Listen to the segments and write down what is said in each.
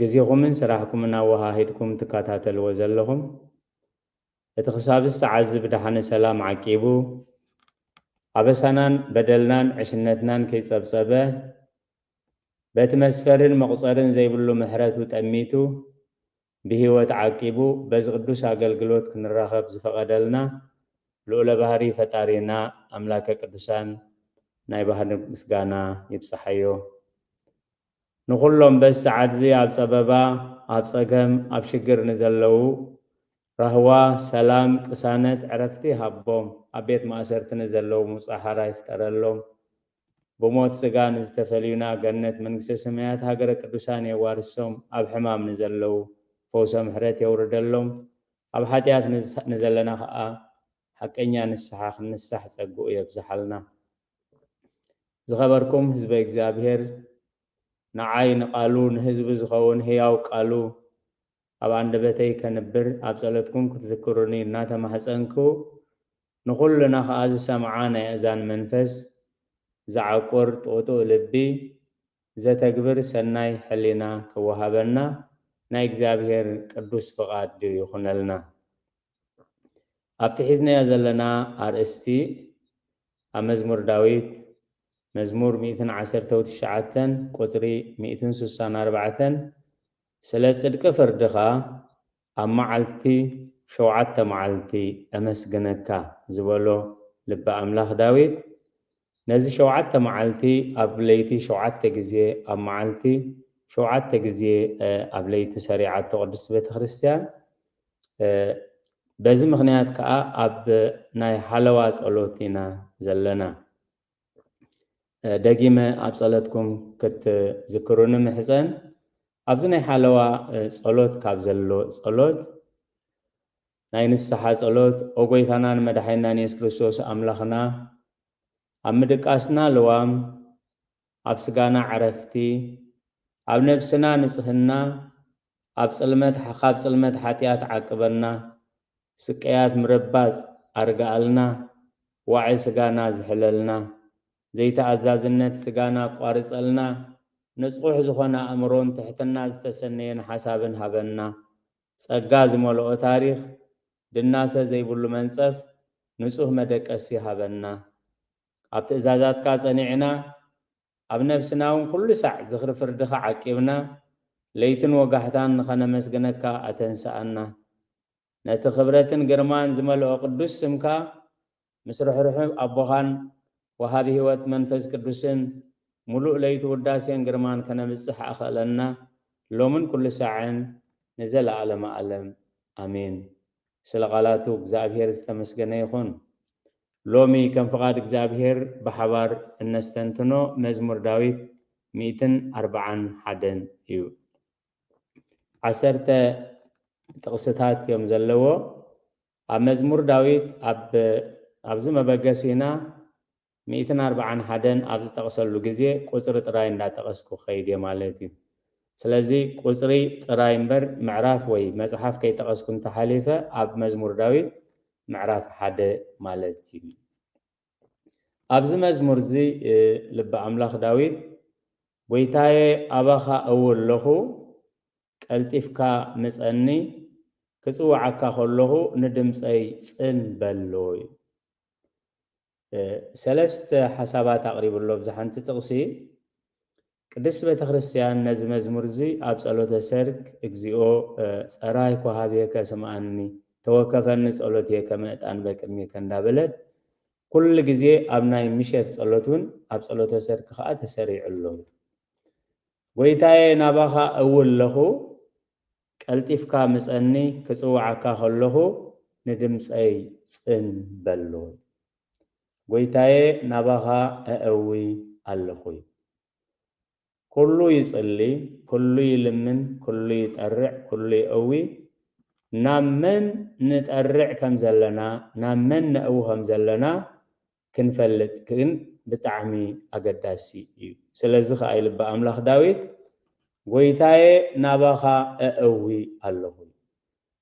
ግዜኹምን ስራሕኩምን ኣወሃሂድኩም ትከታተልዎ ዘለኹም፣ እቲ ክሳብ ዝተዓዝብ ደሓነ ሰላም ዓቂቡ፣ ኣበሳናን በደልናን ዕሽነትናን ከይጸብጸበ፣ በቲ መስፈርን መቑጸርን ዘይብሉ ምሕረቱ ጠሚቱ ብህይወት ዓቂቡ በዚ ቅዱስ ኣገልግሎት ክንራኸብ ዝፈቐደልና ልኡለ ባህሪ ፈጣሪና ኣምላከ ቅዱሳን ናይ ባህሪ ምስጋና ይብጸሓዮ። ንኹሎም በዚ ሰዓትዚ ኣብ ጸበባ፣ ኣብ ጸገም፣ ኣብ ሽግር ንዘለዉ ራህዋ፣ ሰላም፣ ቅሳነት፣ ዕረፍቲ ሃቦም። ኣብ ቤት ማእሰርቲ ንዘለዉ ምጹእ ሓራ ይፍጠረሎም። ብሞት ስጋ ንዝተፈልዩና ገነት መንግስተ ሰማያት ሃገረ ቅዱሳን የዋርሶም። ኣብ ሕማም ንዘለዉ ፈውሰ ምሕረት የውርደሎም። ኣብ ሓጢኣት ንዘለና ከኣ ሓቀኛ ንስሓ ክንሳሕ ጸግኡ የብዝሓልና። ዝኸበርኩም ህዝበ እግዚኣብሔር ንዓይ ንቃሉ ንህዝቢ ዝኸውን ህያው ቃሉ ኣብ ኣንደበተይ ከንብር ኣብ ጸሎትኩም ክትዝክሩኒ እናተማህጸንኩ ንኹልና ከኣ ዝሰምዓ ናይ ኣእዛን መንፈስ ዝዓቁር ጥውጡው ልቢ ዘተግብር ሰናይ ሕሊና ክወሃበና ናይ እግዚኣብሔር ቅዱስ ፍቃድ ይኹነልና። ኣብቲ ሒዝናዮ ዘለና ኣርእስቲ ኣብ መዝሙር ዳዊት መዝሙር ሚእትን ዓሰርተው ትሽዓተን ቁጽሪ ሚእትን ስሳን ኣርባዕተን ስለ ጽድቂ ፍርድኻ ኣብ መዓልቲ ሸውዓተ መዓልቲ ኣመስግነካ ዝበሎ ልቢ ኣምላኽ ዳዊት ነዚ ሸውዓተ መዓልቲ ኣብ ለይቲ ሸውዓተ ግዜ ኣብ መዓልቲ ሸውዓተ ግዜ ኣብ ለይቲ ሰሪዓቶ ቅድስቲ ቤተ ክርስቲያን በዚ ምኽንያት ከኣ ኣብ ናይ ሓለዋ ጸሎት ኢና ዘለና። ደጊመ ኣብ ጸለትኩም ክትዝክሩኒ ምሕጸን። ኣብዚ ናይ ሓለዋ ጸሎት ካብ ዘሎ ጸሎት ናይ ንስሓ ጸሎት ኦ ጎይታናን መድሓኒናን የሱስ ክርስቶስ ኣምላኽና ኣብ ምድቃስና ልዋም ኣብ ስጋና ዕረፍቲ፣ ኣብ ነብስና ንጽህና፣ ኣብ ጽልመት ካብ ጽልመት ሓጢኣት ዓቅበና፣ ስቅያት ምርባጽ ኣርግኣልና፣ ዋዒ ስጋና ዝሕለልና፣ ዘይተኣዛዝነት ስጋና ኣቋርጸልና፣ ንጹሕ ዝኾነ ኣእምሮን ትሕትና ዝተሰነየን ሓሳብን ሃበና። ጸጋ ዝመልኦ ታሪኽ፣ ድናሰ ዘይብሉ መንጸፍ፣ ንጹህ መደቀሲ ሃበና። ኣብ ትእዛዛትካ ጸኒዕና፣ ኣብ ነብስናውን ኩሉ ሳዕ ዝኽሪ ፍርድኻ ዓቂብና፣ ለይትን ወጋሕታን ንኸነመስግነካ ኣተንስኣና። ነቲ ክብረትን ግርማን ዝመልኦ ቅዱስ ስምካ፣ ምስ ርሕሩሕ ኣቦኻን ወሃቢ ሕይወት መንፈስ ቅዱስን፣ ምሉእ ለይቲ ውዳሴን ግርማን ከነብጽሕ ኣኸእለና፣ ሎምን ኩሉ ሳዕን ንዘለዓለመ ኣለም። ኣሜን። ስለ ቃላቱ እግዝኣብሄር ዝተመስገነ ይኹን። ሎሚ ከም ፍቓድ እግዝኣብሄር ብሓባር እነስተንትኖ መዝሙር ዳዊት ሚእትን ኣርብዓን ሓደን እዩ። ዓሰርተ ጥቕስታት እዮም ዘለዎ። ኣብ መዝሙር ዳዊት ኣብ ኣብዚ መበገሲና ሚእትን ኣርብዓን ሓደን ኣብ ዝጠቕሰሉ ግዜ ቁጽሪ ጥራይ እንዳጠቐስኩ ክኸይድ እየ ማለት እዩ። ስለዚ ቁጽሪ ጥራይ እምበር ምዕራፍ ወይ መጽሓፍ ከይጠቐስኩ እንተሓሊፈ ኣብ መዝሙር ዳዊት ምዕራፍ ሓደ ማለት እዩ። ኣብዚ መዝሙር እዚ ልቢ ኣምላኽ ዳዊት ጐይታየ ኣባኻ እውል ኣለኹ ቀልጢፍካ ምጸኒ ክጽውዓካ ከለኹ ንድምጸይ ጽን በል እሉ እዩ። ሰለስተ ሓሳባት ኣቕሪቡ ኣሎ። ኣብዛ ሓንቲ ጥቕሲ ቅድስት ቤተክርስትያን ነዚ መዝሙር እዚ ኣብ ጸሎተ ሰርክ እግዚኦ ጸራይኩ ኀቤከ ስምዓኒ ተወከፈኒ ጸሎትየ ከመ ዕጣን በቅድሜከ እንዳበለት ኩሉ ግዜ ኣብ ናይ ምሸት ጸሎት እውን ኣብ ጸሎተ ሰርክ ከኣ ተሰሪዑ ኣሎ። ጐይታየ ናባኻ እውለኹ ቀልጢፍካ ምጸኒ ክጽውዓካ ከለኹ ንድምጸይ ጽን በሎ። ጐይታየ ናባኻ እእዊ ኣለኹ። ኩሉ ይጽሊ፣ ኩሉ ይልምን፣ ኩሉ ይጠርዕ፣ ኩሉ የእዊ፣ ናብ መን ንጠርዕ ከም ዘለና፣ ናብ መን ነእዊ ከም ዘለና ክንፈልጥ ግን ብጣዕሚ ኣገዳሲ እዩ። ስለዚ ኸኣ ልበ ኣምላኽ ዳዊት ጐይታየ ናባኻ እእዊ ኣሎኹ ኢሉ።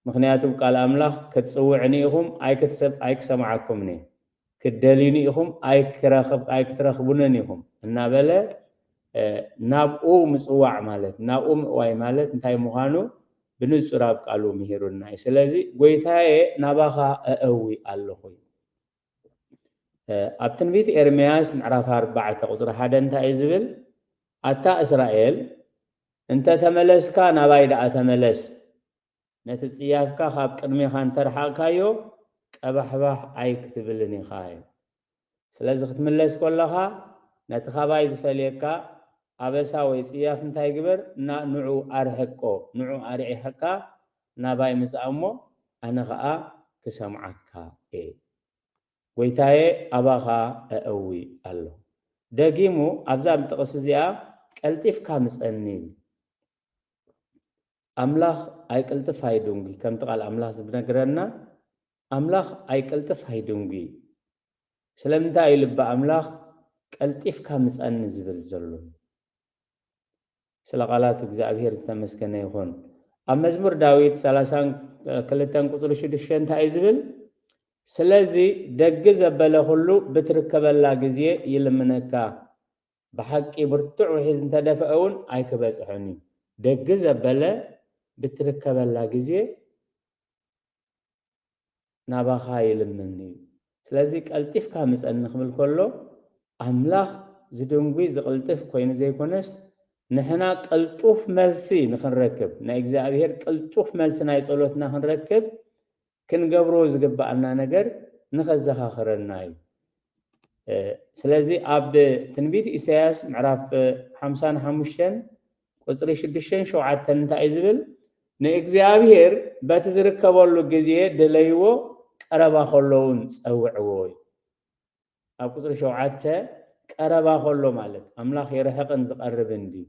ምኽንያቱ ብ ቃል ኣምላኽ ክትጽውዕኒ ኢኹም ኣይክትሰብ ኣይክሰምዓኩምን እየ፣ ክትደልዩኒ ኢኹም ኣይክረኽብ ኣይክትረኽቡንን ኢኹም እናበለ ናብኡ ምጽዋዕ ማለት ናብኡ ምእዋይ ማለት እንታይ ምዃኑ ብንጹር ኣብ ቃሉ ምሂሩና እዩ። ስለዚ ጐይታየ ናባኻ እእዊ ኣሎኹ ኢሉ። ኣብ ትንቢት ኤርምያስ ምዕራፍ ኣርባዕተ ቁፅሪ ሓደ እንታይ እዩ ዝብል? ኣታ እስራኤል እንተ ተመለስካ ናባይ ደኣ ተመለስ፣ ነቲ ፅያፍካ ካብ ቅድሜኻ እንተርሓቕካዮ ቀባሕባሕ ኣይክትብልን ኢኻ እዩ። ስለዚ ክትምለስ ኮለኻ ነቲ ካባይ ዝፈልየካ ኣበሳ ወይ ፅያፍ እንታይ ግበር? ንዑ ኣርሕቆ፣ ንዑ ኣርዒሕካ ናባይ ምጻእ እሞ ኣነ ኸኣ ክሰምዓካ እየ። ጐይታየ ኣባኻ ኣእዊ ኣለኹ። ደጊሙ ኣብዛ ጥቕሲ እዚኣ ቀልጢፍካ ምጸኒ ይብል። ኣምላኽ ኣይቅልጥፍ ኣይድንጒ ከምቲ ቃል ኣምላኽ ዝነግረና ኣምላኽ ኣይቅልጥፍ ኣይድንጒ እዩ። ስለምንታይ እዩ ልቢ ኣምላኽ ቀልጢፍካ ምጸኒ ዝብል ዘሎ? ስለ ቃላት እግዝኣብሄር ዝተመስገነ ይኹን። ኣብ መዝሙር ዳዊት ሰላሳን ክልተን ቁጽሪ ሽዱሽተ እንታይ እዩ ዝብል? ስለዚ ደግ ዘበለ ኩሉ ብትርከበላ ግዜ ይልምነካ ብሓቂ ብርቱዕ ውሒዝ እንተ ደፍአ እውን ኣይክበጽሖን እዩ። ደግ ዘበለ ብትርከበላ ግዜ ናባኻ ይልምን እዩ ስለዚ ቀልጢፍካ ምጸኒ ክብል ከሎ ኣምላኽ ዝድንጒ ዝቕልጥፍ ኮይኑ ዘይኮነስ ንሕና ቅልጡፍ መልሲ ንኽንረክብ ናይ እግዚኣብሄር ቅልጡፍ መልሲ ናይ ጸሎትና ክንረክብ ክንገብሮ ዝግብኣና ነገር ንኸዘኻኽረና እዩ ስለዚ ኣብ ትንቢት ኢሳያስ ምዕራፍ ሓምሳን ሓሙሽተን ቁጽሪ ሽዱሽተን ሸውዓተን እንታይ እዩ ዝብል? ንእግዚኣብሄር በቲ ዝርከበሉ ግዜ ድለይዎ፣ ቀረባ ከሎ እውን ጸውዕዎ እዩ። ኣብ ቁጽሪ ሸውዓተ ቀረባ ከሎ ማለት ኣምላኽ ይርሕቕን ዝቐርብን ድዩ?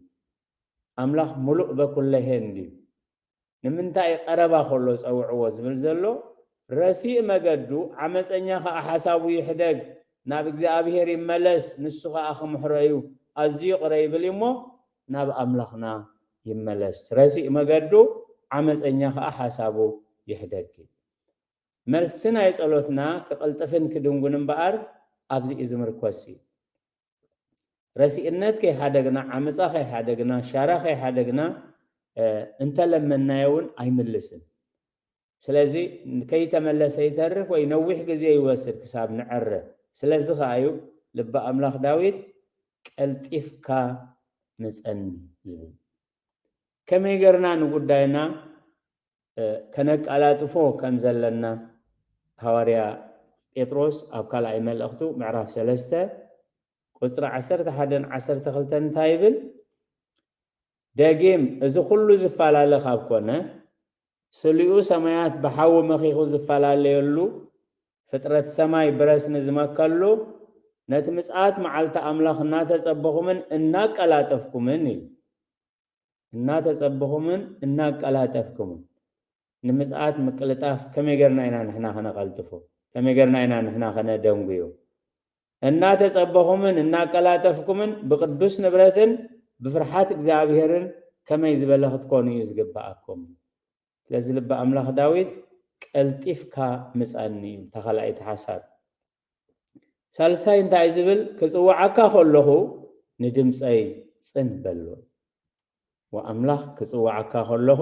ኣምላኽ ምሉእ በኩለሄን ድዩ? ንምንታይ ቀረባ ከሎ ጸውዕዎ ዝብል ዘሎ ረሲእ መገዱ ዓመጸኛ ከኣ ሓሳቡ ይሕደግ ናብ እግዚኣብሄር ይመለስ ንሱ ከኣ ክምሕሮ እዩ ኣዝዩ ይቅረ ይብል እዩ እሞ ናብ ኣምላኽና ይመለስ ረሲእ መገዱ ዓመጸኛ ከኣ ሓሳቡ ይሕደግ እዩ መልሲ ናይ ጸሎትና ክቅልጥፍን ክድንጉን እምበኣር ኣብዚ እዩ ዝምርኮስ እዩ ረሲእነት ከይሓደግና፣ ዓመጻ ከይሓደግና፣ ሻራ ከይሓደግና እንተለመንናዮውን ኣይምልስን። ስለዚ ከይተመለሰ ይተርፍ ወይ ነዊሕ ግዜ ይወስድ ክሳብ ንዐረ። ስለዚ ከኣ እዩ ልቢ ኣምላኽ ዳዊት ቀልጢፍካ ምጸኒ ዝብል። ከመይ ገርና ንጉዳይና ከነቃላጥፎ ከም ዘለና ሃዋርያ ጴጥሮስ ኣብ ካልኣይ መልእኽቱ ምዕራፍ ሰለስተ ቁጽሪ ዓሰርተ ሓደን ዓሰርተ ክልተን እንታይ ይብል? ደጊም እዚ ኩሉ ዝፈላለ ካብ ኮነ ስሊኡ ሰማያት ብሓዊ መኺኹ ዝፈላለየሉ ፍጥረት ሰማይ ብረስኒ ዝመከሉ ነቲ ምጽኣት መዓልቲ ኣምላኽ እናተጸበኹምን እናቀላጠፍኩምን ኢሉ እናተጸበኹምን እናቀላጠፍክሙን ንምጽኣት ምቅልጣፍ ከመይ ገርና ኢና ንሕና ከነቀልጥፎ ከመይ ገርና ኢና ንሕና ከነደንጉዮ እናተጸበኹምን እናቀላጠፍኩምን ብቅዱስ ንብረትን ብፍርሓት እግዚኣብሔርን ከመይ ዝበለ ክትኮኑ እዩ ዝግብኣኩም ስለዚ ልቢ ኣምላኽ ዳዊት ቀልጢፍካ ምጻኒ እዩ ተኻልኣይቲ ሓሳብ ሳልሳይ እንታይ ዝብል ክጽውዓካ ከለኹ ንድምጸይ ጽን በሎ ወኣምላኽ ክጽውዓካ ከለኹ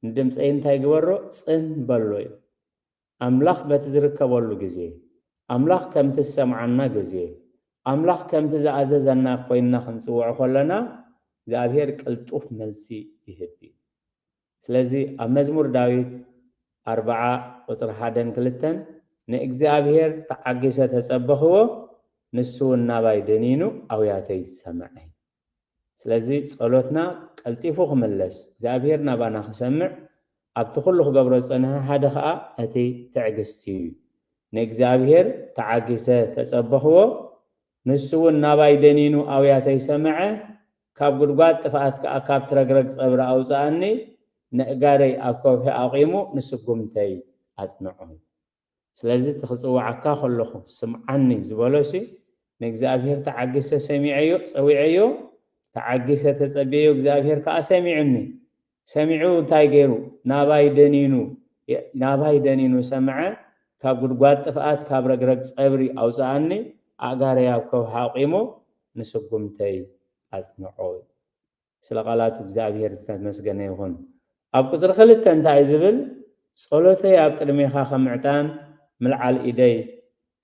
ንድምጸይ እንታይ ግበሮ ጽን በሎ እዩ ኣምላኽ በቲ ዝርከበሉ ግዜ ኣምላኽ ከምቲ ዝሰምዓና ግዜ ኣምላኽ ከምቲ ዝኣዘዘና ኮይንና ክንጽውዖ ከለና እግዚኣብሄር ቅልጡፍ መልሲ ይህብ እዩ ስለዚ ኣብ መዝሙር ዳዊት ኣርብዓ ቁጽሪ ሓደን ክልተን ንእግዚኣብሄር ተዓጊሰ ተጸበኽዎ ንሱውን ናባይ ደኒኑ ኣውያተይ ሰምዐ። ስለዚ ጸሎትና ቀልጢፉ ክምለስ እግዚኣብሄር ናባና ክሰምዕ ኣብቲ ኩሉ ክገብሮ ዝጸንሐ ሓደ ከኣ እቲ ትዕግስቲ እዩ። ንእግዚኣብሄር ተዓጊሰ ተጸበኽዎ ንሱውን ናባይ ደኒኑ ኣውያተይ ሰምዐ፣ ካብ ጕድጓድ ጥፍኣት ከኣ ካብቲ ረግረግ ጸብሪ ኣውጽኣኒ፣ ነእጋረይ ኣብ ከውሒ ኣቝሙ ንስጕምተይ ኣጽንዖም። ስለዚ እቲ ኽጽውዓካ ኸለኹ ስምዓኒ ዝበሎሲ፣ ንእግዚኣብሄር ተዓጊሰ ሰሚዐዮ፣ ጸዊዐዮ፣ ተዓጊሰ ተጸብየዮ፣ እግዚኣብሄር ከኣ ሰሚዑኒ። ሰሚዑ እንታይ ገይሩ ናባይ ደኒኑ ናባይ ደኒኑ ሰምዐ ካብ ጉድጓድ ጥፍኣት ካብ ረግረግ ጸብሪ ኣውጽኣኒ ኣእጋረይ ኣብ ከውሒ ኣቝሙ ንስጉምተይ ኣጽንዖ ኢሉ። ስለ ቃላቱ እግዚኣብሄር ዝተመስገነ ይኹን። ኣብ ቍጽሪ ክልተ እንታይ እዩ ዝብል? ጸሎተይ ኣብ ቅድሜኻ ከም ዕጣን ምልዓል ኢደይ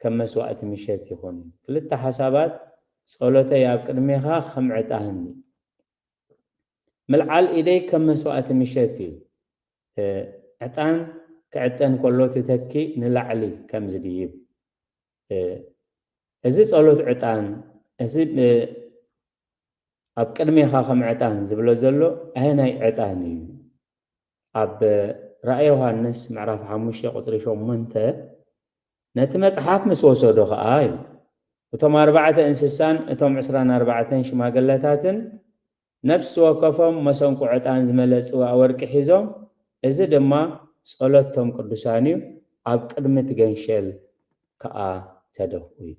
ከም መስዋእቲ ምሸት ይኹን። ክልተ ሓሳባት ጸሎተይ ኣብ ቅድሜኻ ከም ዕጣን እዩ። ምልዓል ኢደይ ከም መስዋእቲ ምሸት እዩ ዕጣን ክዕጠን ከሎ ትተኪ ንላዕሊ ከም ዝድይብ እዚ ጸሎት ዕጣን እዚ ኣብ ቅድሜኻ ከም ዕጣን ዝብሎ ዘሎ ኣየናይ ዕጣን እዩ ኣብ ራእየ ዮሃንስ ምዕራፍ ሓሙሽተ ቁጽሪ ሸሞንተ ነቲ መጽሓፍ ምስ ወሰዶ ኸኣ ኢሉ እቶም ኣርባዕተ እንስሳን እቶም ዕስራን ኣርባዕተን ሽማግለታትን ነፍሲ ወከፎም መሰንቆ ዕጣን ዝመልአ ጽዋእ ወርቂ ሒዞም እዚ ድማ ጸሎት እቶም ቅዱሳን እዩ ኣብ ቅድሚ እቲ ገንሸል ከኣ ተደፍኡ እዩ።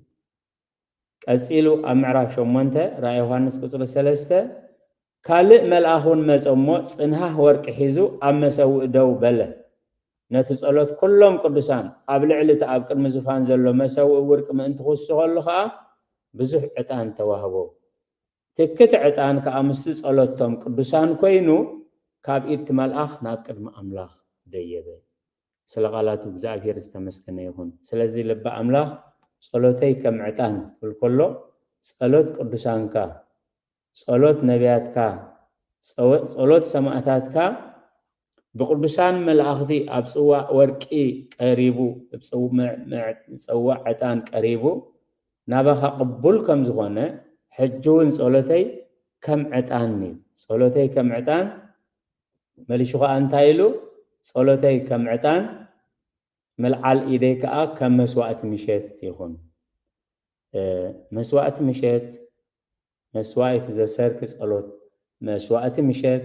ቀጺሉ ኣብ ምዕራፍ ሸሞንተ ራእይ ዮሃንስ ቁጽሪ ሰለስተ ካልእ መልኣኽ እውን መጸ እሞ ጽንሃህ ወርቂ ሒዙ ኣብ መሰውኢ ደው በለ። ነቲ ጸሎት ኩሎም ቅዱሳን ኣብ ልዕሊ እቲ ኣብ ቅድሚ ዝፋን ዘሎ መሰውኢ ውርቂ ምእንቲ ክውስኸሉ ከኣ ብዙሕ ዕጣን ተዋህቦ። ትክት ዕጣን ከኣ ምስቲ ጸሎት እቶም ቅዱሳን ኮይኑ ካብ ኢድ እቲ መልኣኽ ናብ ቅድሚ ኣምላኽ ደየበ። ስለ ቃላቱ እግዝኣብሄር ዝተመስገነ ይኹን ስለዚ ልበ ኣምላኽ ጸሎተይ ከም ዕጣን ክብል ከሎ ጸሎት ቅዱሳንካ ጸሎት ነብያትካ ጸሎት ሰማእታትካ ብቅዱሳን መላእኽቲ ኣብ ጽዋእ ወርቂ ቀሪቡ ጽዋዕ ዕጣን ቀሪቡ ናባኻ ቅቡል ከም ዝኾነ ሕጂ እውን ጸሎተይ ከም ዕጣን እዩ ጸሎተይ ከም ዕጣን መሊሹ ከኣ እንታይ ኢሉ ጸሎተይ ከም ዕጣን ምልዓል ኢደይ ከኣ ከም መስዋእቲ ምሸት ይኹን መስዋእቲ ምሸት መስዋኢት ዘሰርክ ጸሎት መስዋእቲ ምሸት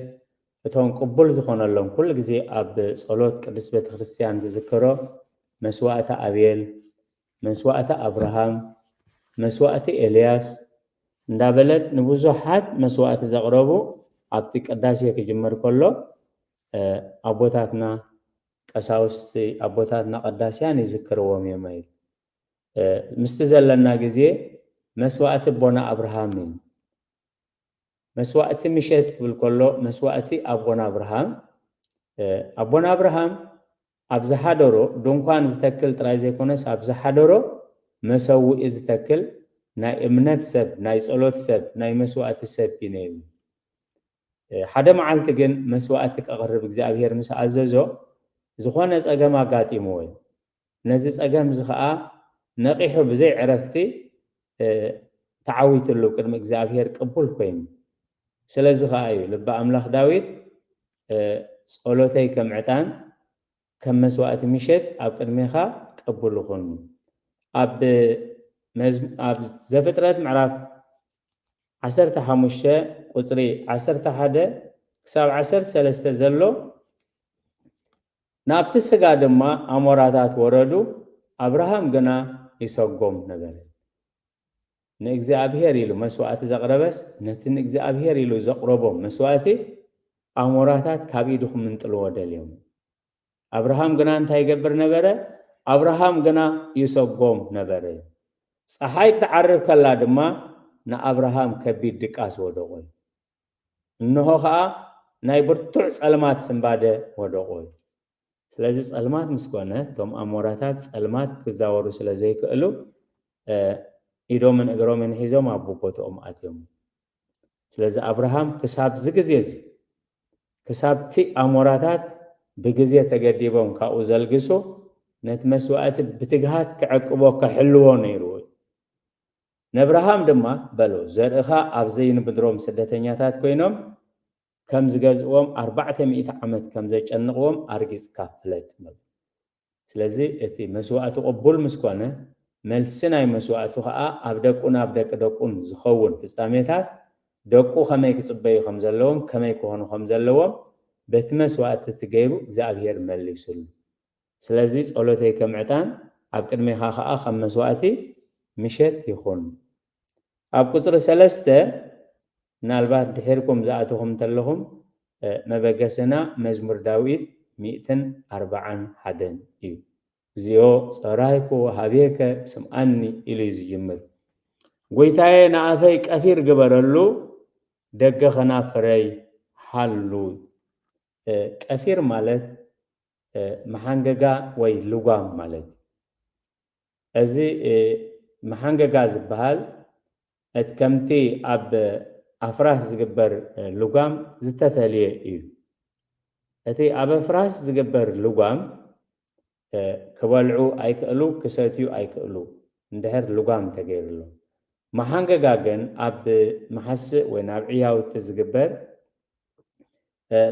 እቶም ቅቡል ዝኾነሎም ኩሉ ግዜ ኣብ ጸሎት ቅድስት ቤተክርስትያን ዝዝከሮ መስዋእቲ ኣቤል መስዋእቲ ኣብርሃም፣ መስዋእቲ ኤልያስ እንዳበለት ንብዙሓት መስዋእቲ ዘቕረቡ ኣብቲ ቅዳሴ ክጅመር ከሎ ኣቦታትና ቀሳውስቲ ኣቦታትና ቀዳስያን ይዝክርዎም እዮም ኢሉ ምስቲ ዘለና ግዜ መስዋእቲ ኣቦና ኣብርሃም እዩ መስዋእቲ ምሸት ክብል ከሎ መስዋእቲ ኣቦና ኣብርሃም ኣቦና ኣብርሃም ኣብ ዝሓደሮ ድንኳን ዝተክል ጥራይ ዘይኮነስ ኣብ ዝሓደሮ መሰውኢ ዝተክል ናይ እምነት ሰብ ናይ ጸሎት ሰብ ናይ መስዋእቲ ሰብ እዩ ነይሩ። ሓደ መዓልቲ ግን መስዋእቲ ከቕርብ እግዚኣብሄር ምስ ኣዘዞ ዝኾነ ጸገም ኣጋጢምዎ እዩ። ነዚ ጸገም እዚ ከኣ ነቒሑ ብዘይ ዕረፍቲ ተዓዊትሉ ቅድሚ እግዚኣብሄር ቅቡል ኮይኑ። ስለዚ ኸኣ እዩ ልቢ ኣምላኽ ዳዊት ጸሎተይ ከም ዕጣን ከም መስዋእቲ ምሸት ኣብ ቅድሜኻ ቅቡል ኹን ኣብ ኣብ ዘፍጥረት ምዕራፍ ዓሰርተ ሓሙሽተ ቁጽሪ ዓሰርተ ሓደ ክሳብ ዓሰርተ ሰለስተ ዘሎ ናብቲ ስጋ ድማ ኣሞራታት ወረዱ ኣብርሃም ግና ይሰጎም ነበረ። ንእግዚኣብሄር ኢሉ መስዋእቲ ዘቕረበስ፣ ነቲ ንእግዚኣብሄር ኢሉ ዘቕረቦ መስዋእቲ ኣሞራታት ካብ ኢዱ ኺምንጥልዎ ደልዮም። ኣብርሃም ግና እንታይ ይገብር ነበረ? ኣብርሃም ግና ይሰጎም ነበረ። ጸሓይ ክትዓርብ ከላ ድማ ንኣብርሃም ከቢድ ድቃስ ወደቖዩ። እንሆ ኸኣ ናይ ብርቱዕ ጸልማት ስንባደ ወደቖዩ። ስለዚ ጸልማት ምስ ኮነ እቶም ኣሞራታት ጸልማት ክዛወሩ ስለ ዘይክእሉ ኢዶምን እግሮምን ሒዞም ኣብ ቦትኦም ኣትዮም። ስለዚ ኣብርሃም ክሳብ እዚ ግዜ እዚ ክሳብቲ ኣሞራታት ብግዜ ተገዲቦም ካብኡ ዘልግሱ ነቲ መስዋእቲ ብትግሃት ክዕቅቦ ክሕልዎ ነይርዎ እዩ። ነብርሃም ድማ በሎ ዘርእኻ ኣብ ዘይንብድሮም ስደተኛታት ኮይኖም ከም ዝገዝእዎም ኣርባዕተ ሚእቲ ዓመት ከም ዘጨንቕዎም ኣርጊጽካ ፍለጥ በሎ። ስለዚ እቲ መስዋእቱ ቅቡል ምስ ኮነ፣ መልሲ ናይ መስዋእቱ ከኣ ኣብ ደቁን ኣብ ደቂ ደቁን ዝኸውን ፍጻሜታት፣ ደቁ ከመይ ክጽበዩ ከም ዘለዎም፣ ከመይ ክኾኑ ከም ዘለዎም በቲ መስዋእቲ እቲ ገይሩ እግዚኣብሄር መሊሱሉ። ስለዚ ጸሎተይ ከም ዕጣን፣ ኣብ ቅድሜኻ ከኣ ከም መስዋእቲ ምሸት ይኹን። ኣብ ቁጽሪ ሰለስተ ምናልባት ድሒርኩም ዝኣተኹም እንተለኹም መበገስና መዝሙር ዳዊት ሚእትን ኣርባዓን ሓደን እዩ። እግዚኦ ጸራይኩ ወሃቤከ ስምኣኒ ኢሉ እዩ ዝጅምር። ጎይታዬ ንኣፈይ ቀፊር ግበረሉ ደገ ከናፍረይ ሃሉ። ቀፊር ማለት መሓንገጋ ወይ ልጓም ማለት እዩ። እዚ መሓንገጋ ዝበሃል እቲ ከምቲ ኣብ ኣፍራስ ዝግበር ልጓም ዝተፈልየ እዩ። እቲ ኣብ ኣፍራስ ዝግበር ልጓም ክበልዑ ኣይክእሉ ክሰትዩ ኣይክእሉ እንድሕር ልጓም ተገይርሎም። መሓንገጋ ግን ኣብ መሓስእ ወይ ናብ ዕያውቲ ዝግበር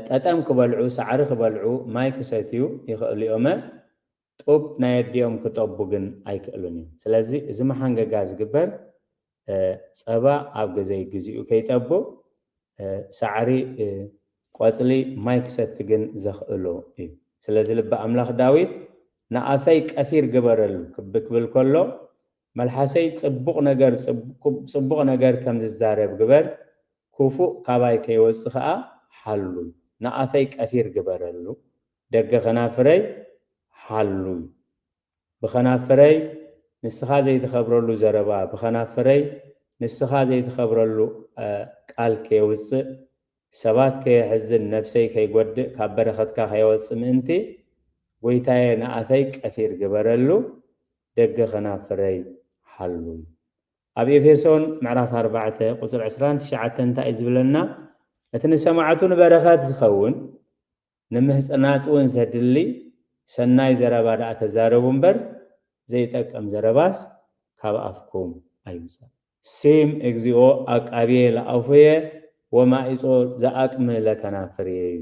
ጠጠም ክበልዑ፣ ሳዕሪ ክበልዑ፣ ማይ ክሰትዩ ይኸእሉ እዮመ። ጡብ ናይ ኣዲኦም ክጠቡ ግን ኣይክእሉን እዮም ስለዚ እዚ መሓንገጋ ዝግበር ፀባ ኣብ ገዘይ ግዚኡ ከይጠቡ ሳዕሪ ቆፅሊ ማይ ክሰቲ ግን ዘኽእሎ እዩ ስለዚ ልበ ኣምላኽ ዳዊት ንኣፈይ ቀፊር ግበረሉ ክብል ከሎ መልሓሰይ ፅቡቕ ነገር ፅቡቕ ነገር ከም ዝዛረብ ግበር ኩፉእ ካባይ ከይወፅእ ኸኣ ሓሉ ንኣፈይ ቀፊር ግበረሉ ደገ ከናፍረይ ሓሉ ብከናፍረይ ንስካ ዘይትከብረሉ ዘረባ ብከናፍረይ ንስካ ዘይትከብረሉ ቃል ከየውጽእ ሰባት ከየሕዝን ነብሰይ ከይጎድእ ካብ በረከትካ ከየወጽእ ምእንቲ ጎይታየ ንኣፈይ ቀፊር ግበረሉ ደገ ከናፍረይ ሓሉ ኣብ ኤፌሶን ምዕራፍ ኣርባዕተ ቁጽሪ ዕስራን ትሽዓተን እንታይ እዩ ዝብለና እቲ ንሰማዕቱ ንበረከት ዝከውን ንምህጽናጽ ውን ዘድሊ ሰናይ ዘረባ ድኣ ተዛረቡ እምበር ዘይጠቅም ዘረባስ ካብ ኣፍኩም ኣይውጻእ። ስም እግዚኦ ኣቃብየ ለኣፉየ ወማኢጾ ዘኣቅምእ ለከናፍርየ እዩ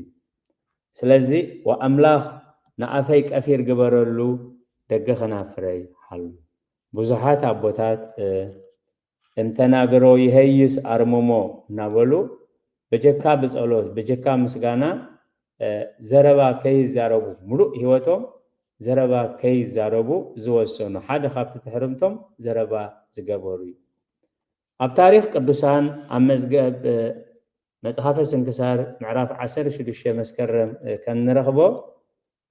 ስለዚ ወኣምላኽ ንኣፈይ ቀፊር ግበረሉ ደገ ከናፍረይ ሓሉ ብዙሓት ኣቦታት እምተናግሮ ይሀይስ ኣርምሞ እናበሉ በጀካ ብጸሎት በጀካ ምስጋና ዘረባ ከይዛረቡ ምሉእ ሕይወቶም ዘረባ ከይዛረቡ ዝወሰኑ ሓደ ካብቲ ትሕርምቶም ዘረባ ዝገበሩ እዩ። ኣብ ታሪኽ ቅዱሳን ኣብ መዝገብ መጽሓፈ ስንክሳር ምዕራፍ ዓሰርተ ሽዱሽተ መስከረም ከም ንረኽቦ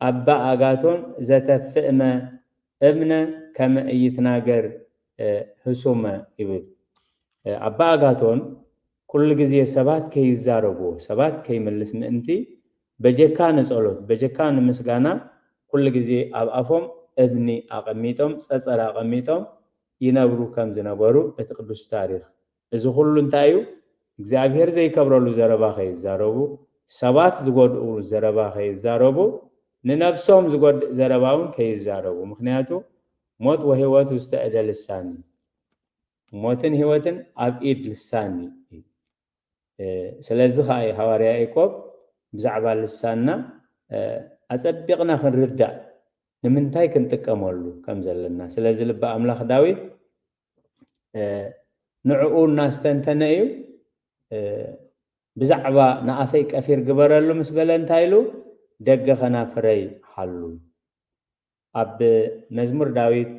ኣባ ኣጋቶን ዘተፍእመ እምነ ከመ ኢይትናገር ህሱመ ይብል። ኣባ ኣጋቶን ኩሉ ግዜ ሰባት ከይዛረቡ፣ ሰባት ከይምልስ ምእንቲ በጀካ ንጸሎት፣ በጀካ ንምስጋና ኩሉ ግዜ ኣብ ኣፎም እምኒ ኣቐሚጦም፣ ጸጸር ኣቐሚጦም ይነብሩ ከም ዝነበሩ እቲ ቅዱስ ታሪኽ እዚ ኩሉ እንታይ እዩ እግዚኣብሔር ዘይከብረሉ ዘረባ ከይዛረቡ ሰባት ዝጎድኡ ዘረባ ከይዛረቡ ንነብሶም ዝጎድእ ዘረባ እውን ከይዛረቡ ምክንያቱ ሞት ወህይወት ውስተ እደ ልሳን እዩ ሞትን ህይወትን ኣብ ኢድ ልሳን እዩ ስለዚ ከዓ እዩ ሃዋርያ ያዕቆብ ብዛዕባ ልሳንና ኣጸቢቕና ክንርዳእ ንምንታይ ክንጥቀመሉ ከም ዘለና ስለዚ ልቢ ኣምላኽ ዳዊት ንዕኡ እናስተንተነ እዩ ብዛዕባ ንኣፈይ ቀፊር ግበረሉ ምስ በለ እንታይ ኢሉ ደገ ከናፍረይ ሓሉ ኣብ መዝሙር ዳዊት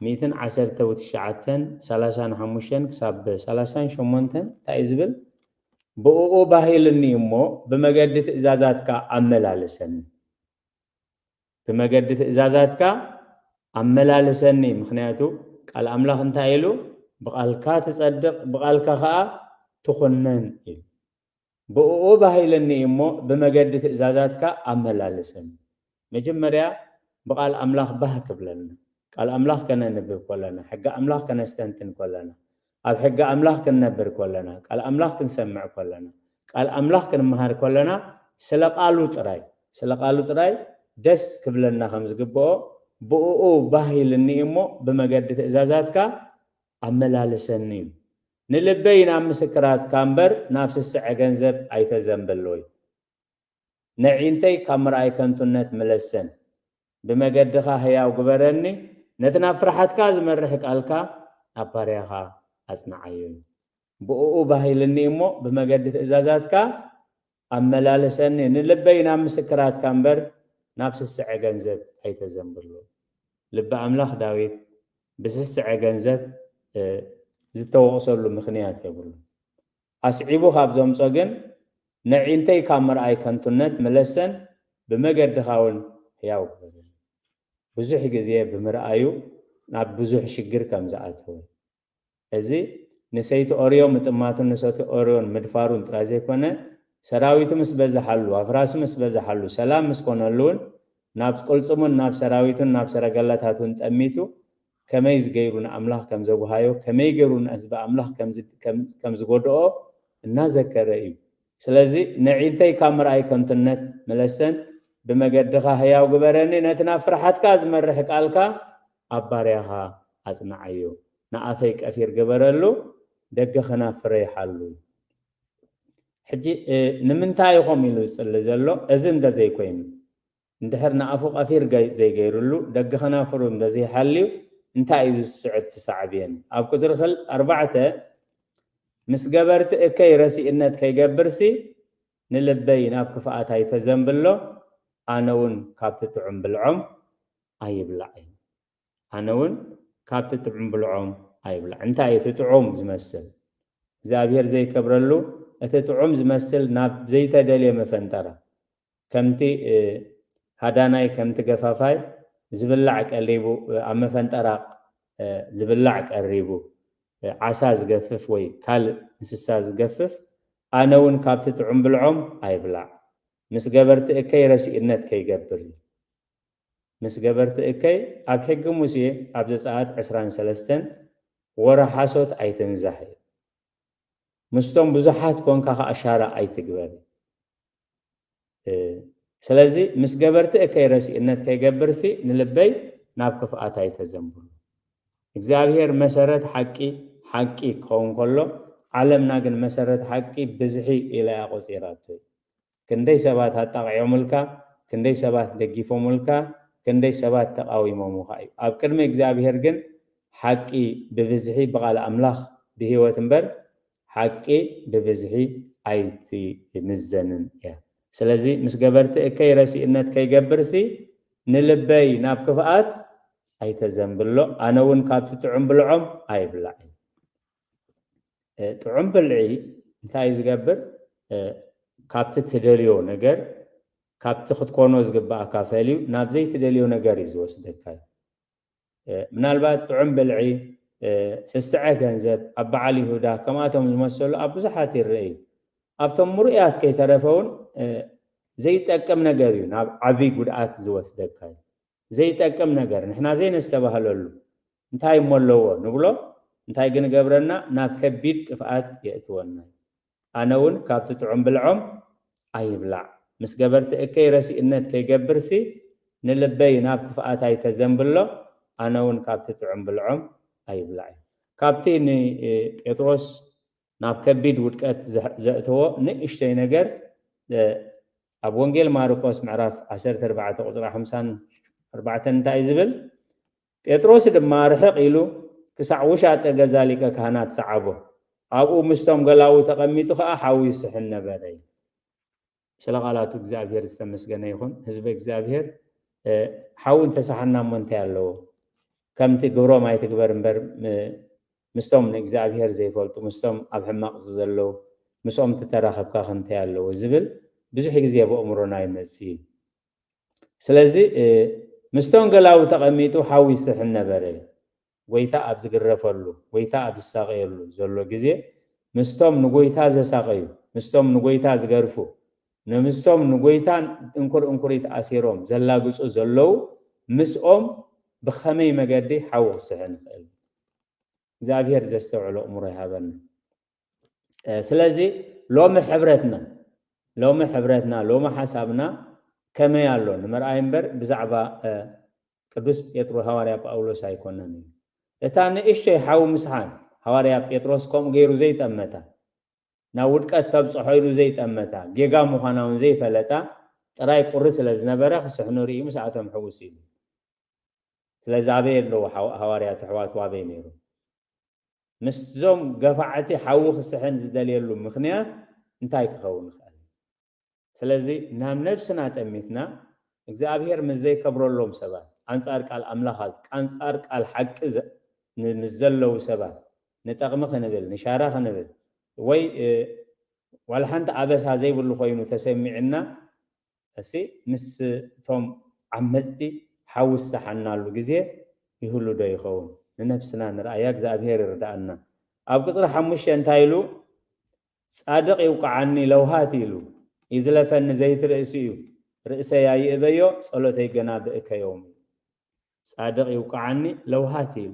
ሚእትን ዓሰርተ ውትሽዓተን ሰላሳን ሓሙሽተን ክሳብ ሰላሳን ሸሞንተን እንታይ እዩ ዝብል ብእኡ ባህልኒ እሞ ብመገዲ ትእዛዛትካ ኣመላልሰኒ ብመገዲ ትእዛዛትካ ኣመላልሰኒ፣ ምኽንያቱ ቃል ኣምላኽ እንታይ ኢሉ፣ ብቓልካ ትጸድቕ፣ ብቓልካ ኸኣ ትኹነን ኢሉ። ብእኡ ኣባሂለኒ እዩ እሞ፣ ብመገዲ ትእዛዛትካ ኣመላልሰኒ። መጀመርያ ብቓል ኣምላኽ ባህ ክብለና፣ ቃል ኣምላኽ ከነንብብ ከሎና፣ ሕጊ ኣምላኽ ከነስተንትን ከሎና፣ ኣብ ሕጊ ኣምላኽ ክንነብር ከሎና፣ ቃል ኣምላኽ ክንሰምዕ ከሎና፣ ቃል ኣምላኽ ክንመሃር ከሎና፣ ስለ ቃሉ ጥራይ፣ ስለ ቃሉ ጥራይ ደስ ክብለና ከም ዝግብኦ፣ ብእኡ ባህ ኢልኒ እዩ እሞ፣ ብመገዲ ትእዛዛትካ ኣመላልሰኒ እዩ። ንልበይ ናብ ምስክራትካ እምበር፣ ናብ ስስዐ ገንዘብ ኣይተዘንብል። ወይ። ነዒንተይ ካብ ምርኣይ ከንቱነት ምለሰን ብመገድኻ ህያው ግበረኒ ነቲ ናብ ፍርሓትካ ዝመርሕ ቃልካ ናብ ፓርያኻ ኣጽንዓዮ ብእኡ ባህ ኢልኒ እሞ ብመገዲ ትእዛዛትካ ኣመላልሰኒ ንልበይ ናብ ምስክራትካ እምበር ናብ ስስዐ ገንዘብ ኣይተዘንብሎ ልቢ ኣምላኽ ዳዊት ብስስዐ ገንዘብ ዝተወቕሰሉ ምኽንያት የብሉን ኣስዒቡ ካብ ዘምጾ ግን ነዒንተይ ካብ ምርኣይ ከንቱነት ምለሰን ብመገድኻ ውን ሕያው ክህብን ብዙሕ ግዜ ብምርኣዩ ናብ ብዙሕ ሽግር ከም ዝኣተወን እዚ ንሰይቲ ኦርዮ ምጥማቱን ንሰቲ ኦርዮን ምድፋሩን ጥራይ ዘይኮነ ሰራዊቱ ምስ በዘሓሉ ኣፍራሱ ምስ በዘሓሉ ሰላም ምስ ኮነሉ ውን ናብ ቅልጽሙን ናብ ሰራዊቱን ናብ ሰረገላታቱን ጠሚቱ ከመይ ዝገይሩ ንኣምላኽ ከም ዘጉሃዮ፣ ከመይ ገሩ ንህዝቢ ኣምላኽ ከም ዝጎድኦ እናዘከረ እዩ። ስለዚ ነዒንተይ ካብ ምርኣይ ከንቱነት ምለሰን፣ ብመገድኻ ህያው ግበረኒ፣ ነቲ ናብ ፍርሓትካ ዝመርሕ ቃልካ ኣብ ባርያኻ ኣጽንዓዮ። ንኣፈይ ቀፊር ግበረሉ፣ ደገ ከናፍረይ ሓሉ። ሕጂ ንምንታይ ኢኹም ኢሉ ዝጽሊ ዘሎ፣ እዚ እንተ ዘይኮይኑ? እንድሕር ንኣፉ ቀፊር ዘይገይርሉ ደገ ከናፍሩ እንተዘይሓልዩ እንታይ እዩ ዝስዕብ እቲ ሳዕቤን? ኣብ ቁጽሪ ክል ኣርባዕተ ምስ ገበርቲ እከይ ረሲእነት ከይገብርሲ ንልበይ ናብ ክፍኣት ኣይተዘንብሎ ኣነ ውን ካብቲ ጥዑም ብልዖም ኣይብላዕ እዩ ኣነ ውን ካብቲ ጥዑም ብልዖም ኣይብላዕ እንታይ እዩ እቲ ጥዑም ዝመስል እግዚኣብሄር ዘይከብረሉ እቲ ጥዑም ዝመስል ናብ ዘይተደልየ መፈንጠራ ከምቲ ሃዳናይ ከምቲ ገፋፋይ ዝብላዕ ቀሊቡ ኣብ መፈንጠራ ዝብላዕ ቀሪቡ ዓሳ ዝገፍፍ ወይ ካልእ እንስሳ ዝገፍፍ ኣነ ውን ካብቲ ጥዑም ብልዖም ኣይብላዕ ምስ ገበርቲ እከይ ረሲእነት ከይገብር ኢል ምስ ገበርቲ እከይ ኣብ ሕጊ ሙሴ ኣብ ዘጸኣት ዕስራን ሰለስተን ወረ ሓሶት ኣይትንዛሕ ኢል ምስቶም ብዙሓት ኮንካ ከኣ ሻራ ኣይትግበር ኢል ስለዚ ምስ ገበርቲ እከይ ረሲእነት ከይገብርሲ ንልበይ ናብ ክፍኣት ኣይተዘንብሉ። እግዚኣብሄር መሰረት ሓቂ ሓቂ ክኸውን ከሎ ዓለምና ግን መሰረት ሓቂ ብዝሒ ኢላ እያ ቆጺራቶ። ክንደይ ሰባት ኣጣቒዖምልካ፣ ክንደይ ሰባት ደጊፎምልካ፣ ክንደይ ሰባት ተቓዊሞምኻ እዩ። ኣብ ቅድሚ እግዚኣብሄር ግን ሓቂ ብብዝሒ ብቓል ኣምላኽ ብህይወት እምበር ሓቂ ብብዝሒ ኣይትምዘንን እያ። ስለዚ ምስ ገበርቲ እከይ ረሲእነት ከይገብርሲ ንልበይ ናብ ክፍኣት ኣይተዘንብሎ፣ ኣነ እውን ካብቲ ጥዑም ብልዖም ኣይብላዕ እዩ። ጥዑም ብልዒ እንታይ እዩ ዝገብር? ካብቲ ትደልዮ ነገር ካብቲ ክትኮኖ ዝግብኣካ ፈልዩ ናብ ዘይትደልዮ ነገር እዩ ዝወስደካ እዩ። ምናልባት ጥዑም ብልዒ፣ ስስዐ ገንዘብ፣ ኣብ በዓል ይሁዳ ከምኣቶም ዝመሰሉ ኣብ ብዙሓት ይርእ እዩ። ኣብቶም ምርኡያት ከይተረፈ እውን ዘይጠቅም ነገር እዩ ናብ ዓቢ ጉድኣት ዝወስደካ እዩ። ዘይጠቅም ነገር፣ ንሕና ዘይነስተባህለሉ እንታይ እሞ ኣለዎ ንብሎ፣ እንታይ ግን እገብረና ናብ ከቢድ ጥፍኣት የእትወና እዩ። ኣነ ውን ካብቲ ጥዑም ብልዖም ኣይብላዕ ምስ ገበርቲ እከይ ረሲእነት ከይገብርሲ ንልበይ ናብ ክፍኣት ኣይተዘንብሎ ኣነ ውን ካብቲ ጥዑም ብልዖም ኣይብላዕ እዩ ካብቲ ን ጴጥሮስ ናብ ከቢድ ውድቀት ዘእተዎ ንእሽቶይ ነገር ኣብ ወንጌል ማርቆስ ምዕራፍ ዓሰርተ ኣርባዕተ ቁጽሪ ሓምሳን ኣርባዕተን እንታይ እዩ ዝብል ጴጥሮስ ድማ ርሕቕ ኢሉ ክሳዕ ውሻጠ ገዛ ሊቀ ካህናት ሰዓቦ፣ ኣብኡ ምስቶም ገላዉ ተቐሚጡ ኸኣ ሓዊ ይስሕን ነበረ ይብል። ስለ ቃላቱ እግዚኣብሄር ዝተመስገነ ይኹን። ህዝበ እግዚኣብሄር ሓዊ እንተ ሰሓና እሞ እንታይ ኣለዎ? ከምቲ ግብሮም ኣይትግበር እምበር ምስቶም ንእግዚኣብሄር ዘይፈልጡ ምስቶም ኣብ ሕማቕ ዘለዉ ምስኦም ተተራኸብካ ከ እንታይ ኣለዎ? ዝብል ብዙሕ ግዜ ኣብ ኣእምሮና ይመጽእ እዩ። ስለዚ ምስ ቶንገላዊ ተቐሚጡ ሓዊ ይስሕን ነበረ። ጐይታ ኣብ ዝግረፈሉ፣ ጐይታ ኣብ ዝሳቐየሉ ዘሎ ግዜ፣ ምስቶም ንጐይታ ዘሳቐዩ፣ ምስቶም ንጐይታ ዝገርፉ፣ ምስቶም ንጐይታ እንኩር እንኩሪት ኣሲሮም ዘላግጹ ዘለዉ፣ ምስኦም ብኸመይ መገዲ ሓዊ ክስሕን ይኽእል? እግዚኣብሄር ዘስተውዕል ኣእምሮ ይሃበና። ስለዚ ሎሚ ሕብረትና ሎሚ ሕብረትና ሎሚ ሓሳብና ከመይ ኣሎ ንምርኣይ እምበር ብዛዕባ ቅዱስ ጴጥሮ ሃዋርያ ጳውሎስ ኣይኮነን እዩ እታ ንእሽቶይ ሓዊ ምስሓን ሃዋርያ ጴጥሮስ ከምኡ ገይሩ ዘይጠመታ ናብ ውድቀት ተብፅሖ ኢሉ ዘይጠመታ ጌጋ ምዃና እውን ዘይፈለጣ ጥራይ ቁሪ ስለ ዝነበረ ክስሕኑ ርእዩ ምስኣቶም ሕውስ ኢሉ ስለዚ ኣበይ ኣለዉ ሃዋርያት ኣሕዋቱ ኣበይ ነይሩ ምስዞም ገፋዕቲ ሓዊ ክስሕን ዝደልየሉ ምኽንያት እንታይ ክኸውን ይኽእል እዩ? ስለዚ ናብ ነብስና ጠሚትና እግዚኣብሄር ምስ ዘይከብረሎም ሰባት፣ ኣንጻር ቃል ኣምላኽ ኣንጻር ቃል ሓቂ ምስ ዘለዉ ሰባት ንጠቕሚ ክንብል፣ ንሻራ ክንብል ወይ ዋላ ሓንቲ ኣበሳ ዘይብሉ ኮይኑ ተሰሚዑና እስይ ምስ ቶም ዓመጽቲ ሓዊ ዝሰሓናሉ ግዜ ይህሉ ዶ ይከውን ንነብስና ንርኣያ እግዝኣብሄር ይርድኣና ኣብ ቅጽሪ ሓሙሽተ እንታይ ኢሉ ጻድቅ ይውቅዓኒ ለውሃት ኢሉ ይዝለፈኒ ዘይቲ ርእሲ እዩ ርእሰይ ኣይእበዮ ጸሎተይ ገና ብእከ ዮም እዩ ጻድቅ ይውቅዓኒ ለውሃት ኢሉ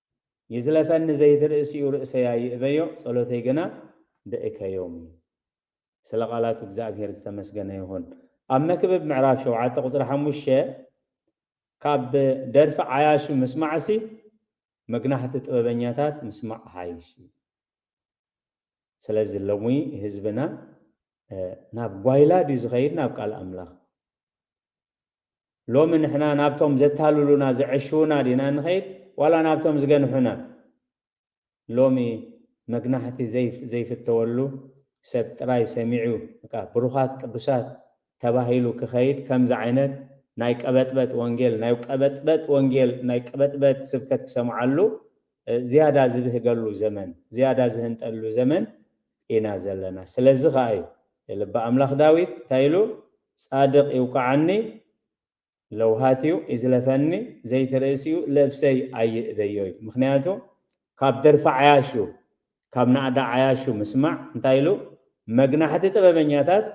ይዝለፈኒ ዘይትርእሲኡ ርእሰይ ኣይእበዮ ጸሎተይ ግና ብእከዮም እዩ። ስለ ቃላቱ እግዝኣብሄር ዝተመስገነ ይኹን። ኣብ መክብብ ምዕራፍ ሸውዓተ ቁጽሪ ሓሙሽተ ካብ ደርፊ ዓያሹ ምስማዕሲ መግናሕቲ ጥበበኛታት ምስማዕ ይሓይሽ እዩ። ስለዚ ሎሚ ህዝብና ናብ ጓይላ ድዩ ዝኸይድ ናብ ቃል ኣምላኽ? ሎሚ ንሕና ናብቶም ዘታልሉና ዘዐሽዉና ዲና ንኸይድ ዋላ ናብቶም ዝገንሑና? ሎሚ መግናሕቲ ዘይፍተወሉ ሰብ ጥራይ ሰሚዑ በቃ ብሩኻት ቅዱሳት ተባሂሉ ክኸይድ ከምዚ ዓይነት ናይ ቀበጥበጥ ወንጌል ናይ ቀበጥበጥ ወንጌል ናይ ቀበጥበጥ ስብከት ክሰምዓሉ ዝያዳ ዝብህገሉ ዘመን፣ ዝያዳ ዝህንጠሉ ዘመን ኢና ዘለና። ስለዚ ኸኣ እዩ ልበ ኣምላኽ ዳዊት እንታይ ኢሉ፣ ጻድቕ ይውቅዓኒ፣ ለውሃትዩ ይዝለፈኒ፣ ዘይቲ ርእሲዩ ልብሰይ ኣይእበዮ ኢሉ። ምኽንያቱ ካብ ደርፊ ዓያሹ፣ ካብ ናእዳ ዓያሹ ምስማዕ እንታይ ኢሉ፣ መግናሕቲ ጥበበኛታት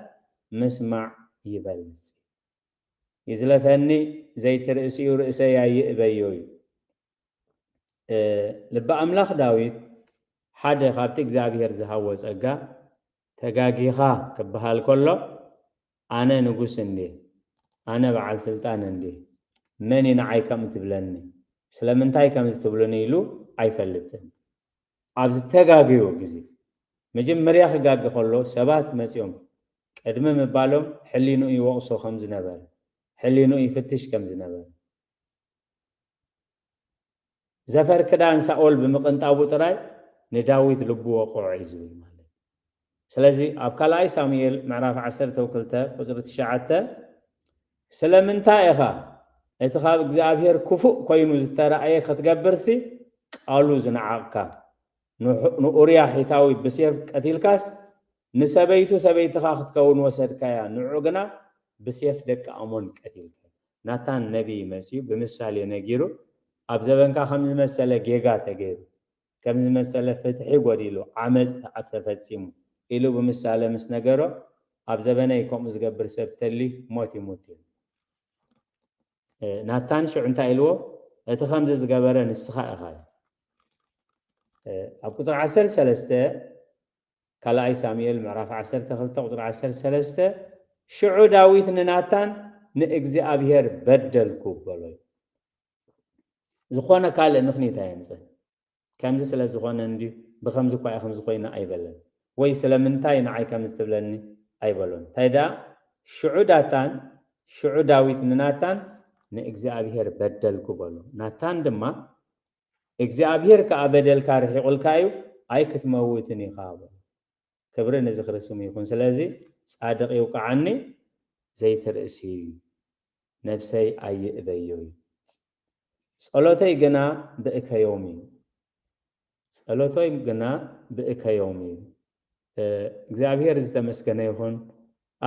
ምስማዕ ይበልጽ እዩ። ይዝለፈኒ፣ ዘይቲ ርእሲዩ ርእሰይ ኣይእበዮ ኢሉ። ልቢ ኣምላኽ ዳዊት ሓደ ካብቲ እግዚኣብሔር ዝሃዎ ጸጋ ተጋጊኻ ክበሃል ከሎ ኣነ ንጉስ እንድየ ኣነ በዓል ስልጣን እንድየ መን እዩ ንዓይ ከምኡ ትብለኒ ስለምንታይ ከምዚ ትብሉኒ ኢሉ ኣይፈልጥን ኣብ ዝተጋገዮ ግዜ መጀመርያ ክጋገ ከሎ ሰባት መጺኦም ቅድሚ ምባሎም ሕሊንኡ ይወቕሶ ከም ዝነበረ ሕሊንኡ ይፍትሽ ከም ዝነበረ ዘፈር ክዳን ሳኦል ብምቕንጣቡ ጥራይ ንዳዊት ልቡ ወቕዖ እዩ ዝብል ማለት እዩ። ስለዚ ኣብ ካልኣይ ሳሙኤል ምዕራፍ ዓሰርተ ክልተ ቁጽሪ ትሽዓተ ስለምንታይ ኢኻ እቲ ካብ እግዚኣብሔር ክፉእ ኮይኑ ዝተራእየ ክትገብርሲ ቃሉ ዝነዓቕካ ንኡርያ ሒታዊ ብሴፍ ቀቲልካስ ንሰበይቱ ሰበይትኻ ክትከውን ወሰድካያ ንዑ ግና ብሴፍ ደቂ ኣሞን ቀቲልካያ። ናታን ነቢይ መጺኡ ብምሳሌ ነጊሩ ኣብ ዘበንካ ከምዚ መሰለ ጌጋ ተገይሩ ከምዚ መሰለ ፍትሒ ጎዲሉ ዓመጽ ተፈጺሙ ኢሉ ብምሳለ ምስ ነገሮ ኣብ ዘበነይ ከምኡ ዝገብር ሰብ ተልዩ ሞት ይሙት ኢሉ። ናታን ሽዑ እንታይ ኢልዎ እቲ ከምዚ ዝገበረ ንስኻ ኢኻ ኢሉ። ኣብ ቁጽሪ ዓሰርተ ሰለስተ ካልኣይ ሳሙኤል ምዕራፍ ዓሰርተ ክልተ ቁጽሪ ዓሰርተ ሰለስተ ሽዑ ዳዊት ንናታን ንእግዚኣብሔር በደልኩ በሎ እዩ። ዝኾነ ካልእ ምኽኒት ኣየምጽን። ከምዚ ስለ ዝኾነ እንድዩ፣ ብኸምዚ እኳ ኢኽምዚ ኾይኑ ኣይበለን። ወይ ስለምንታይ ንዓይ ከምዚ ትብለኒ ኣይበሎን። እንታይ ደኣ ሽዑ ዳታን ሽዑ ዳዊት ንናታን ንእግዚኣብሄር በደልኩ በሎ። ናታን ድማ እግዚኣብሄር ከኣ በደልካ ርሒቑልካ እዩ ኣይክትመውትን ኢኻ በሎ። ክብሪ ንዝኽሪ ስሙ ይኹን ስለዚ ጻድቕ ይውቃዓኒ ዘይትርእሲ ነብሰይ ኣይእበዮ እዩ ጸሎተይ ግና ብእከዮም እዩ ጸሎተይ ግና ብእከዮም እዩ እግዚኣብሔር ዝተመስገነ ይኹን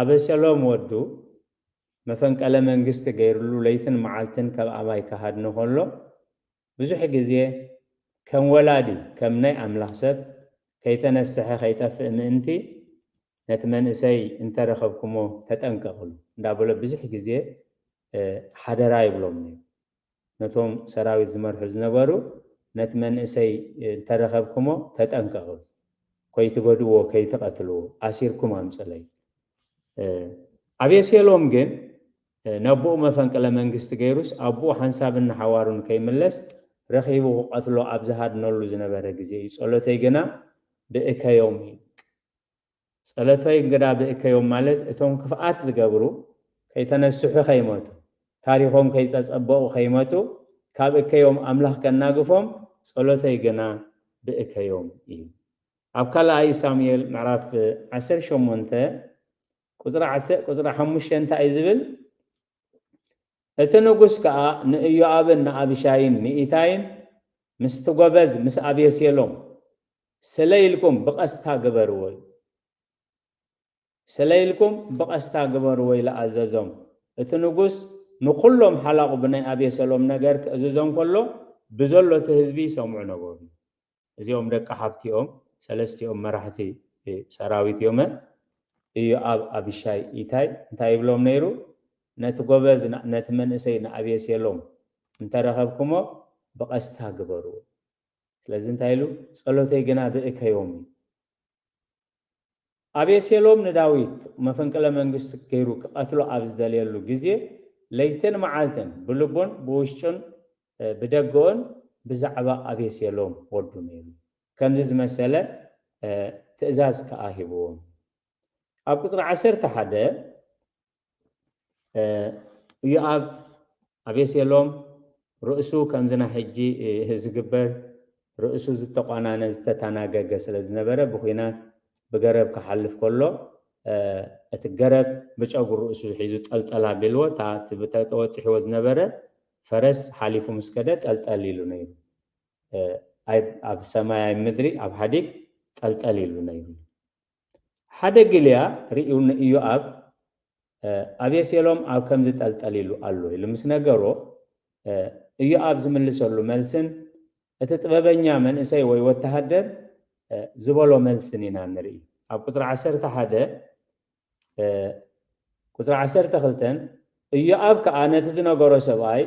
ኣበሰሎም ወዱ መፈንቀለ መንግስቲ ገይርሉ ለይትን መዓልትን ከብ ኣባይ ክሃድን ከሎ ብዙሕ ግዜ ከም ወላዲ ከም ናይ ኣምላኽ ሰብ ከይተነስሐ ከይጠፍእ ምእንቲ ነቲ መንእሰይ እንተ ረኸብኩሞ ተጠንቀቕሉ እንዳ በሎ ብዝሕ ግዜ ሓደራ ይብሎም ነይሩ ነቶም ሰራዊት ዝመርሑ ዝነበሩ ነቲ መንእሰይ እንተ ረኸብኩሞ ተጠንቀቕሉ ኮይትጎድእዎ ከይትቐትልዎ ኣሲርኩም ኣምጽለይ ኣቤሴሎም ግን ነቦኡ መፈንቅለ መንግስቲ ገይሩስ ኣቦኡ ሓንሳብን ንሓዋሩን ከይምለስ ረኺቡ ክቐትሎ ኣብ ዝሃድነሉ ዝነበረ ግዜ እዩ ጸሎተይ ግና ብእከዮም እዩ ጸሎተይ ግና ብእከዮም ማለት እቶም ክፍኣት ዝገብሩ ከይተነስሑ ከይመቱ ታሪኾም ከይተጸበቑ ከይመቱ ካብ እከዮም ኣምላኽ ከናግፎም ጸሎተይ ግና ብእከዮም እዩ ኣብ ካልኣይ ሳሙኤል ምዕራፍ ዓሰርተ ሸሞንተ ቍጽሪ ዓሰ ቍጽሪ ሓሙሽተ እንታይ እዩ ዚብል? እቲ ንጉስ ከኣ ንእዮኣብን ንኣብሻይን ንኢታይን፣ ምስቲ ጐበዝ ምስ ኣብየሴሎም፣ ስለ ኢልኩም ብቐስታ ግበርዎ ኢሉ። ስለ ኢልኩም ብቐስታ ግበርዎ ኢሉ ኣዘዞም። እቲ ንጉስ ንዅሎም ሓላቑ ብናይ ኣብየሰሎም ነገር ኪእዝዞም ከሎ፣ ብዘሎ እቲ ህዝቢ ይሰምዑ ነበሩ እዩ። እዚኦም ደቂ ሓብቲ እዮም ሰለስቲኦም መራሕቲ ሰራዊት እዮመ እዮኣብ ኣቢሻይ ኢታይ እንታይ ይብሎም ነይሩ ነቲ ጎበዝ ነቲ መንእሰይ ንኣብየሴሎም እንተረኸብኩሞ ብቀስታ ግበርዎ ስለዚ እንታይ ኢሉ ጸሎተይ ግና ብእከዮም እዩ ኣቤሴሎም ንዳዊት መፈንቅለ መንግስቲ ገይሩ ክቐትሎ ኣብ ዝደልየሉ ግዜ ለይትን መዓልትን ብልቡን ብውሽጡን ብደገኡን ብዛዕባ ኣቤሴሎም ወዱ ነይሩ ከምዚ ዝመሰለ ትእዛዝ ከኣ ሂብዎም ኣብ ቁጽሪ ዓሰርተ ሓደ ኢዮኣብ ኣቤሴሎም ርእሱ ከምዚ ናይ ሕጂ ዝግበር ርእሱ ዝተቋናነ ዝተታናገገ ስለ ዝነበረ ብኩናት ብገረብ ክሓልፍ ከሎ እቲ ገረብ ብጨጉሪ ርእሱ ሒዙ ጠልጠል ኣቢልዎ እታ እቲ ተወጢሕዎ ዝነበረ ፈረስ ሓሊፉ ምስ ከደ ጠልጠል ኢሉ ነይሩ ኣብ ሰማይ ኣብ ምድሪ ኣብ ሓዲግ ጠልጠል ኢሉ ነይሩ ሓደ ግልያ ርእዩ ንኢዮኣብ፣ ኣቤሴሎም ኣብ ከምዚ ጠልጠል ኢሉ ኣሎ ኢሉ ምስ ነገሮ፣ ኢዮኣብ ዝምልሰሉ መልስን እቲ ጥበበኛ መንእሰይ ወይ ወተሃደር ዝበሎ መልስን ኢና እንርኢ። ኣብ ቍጽሪ ዓሰርተ ሓደ፣ ቍጽሪ ዓሰርተ ክልተን፣ ኢዮኣብ ከኣ ነቲ ዝነገሮ ሰብኣይ፣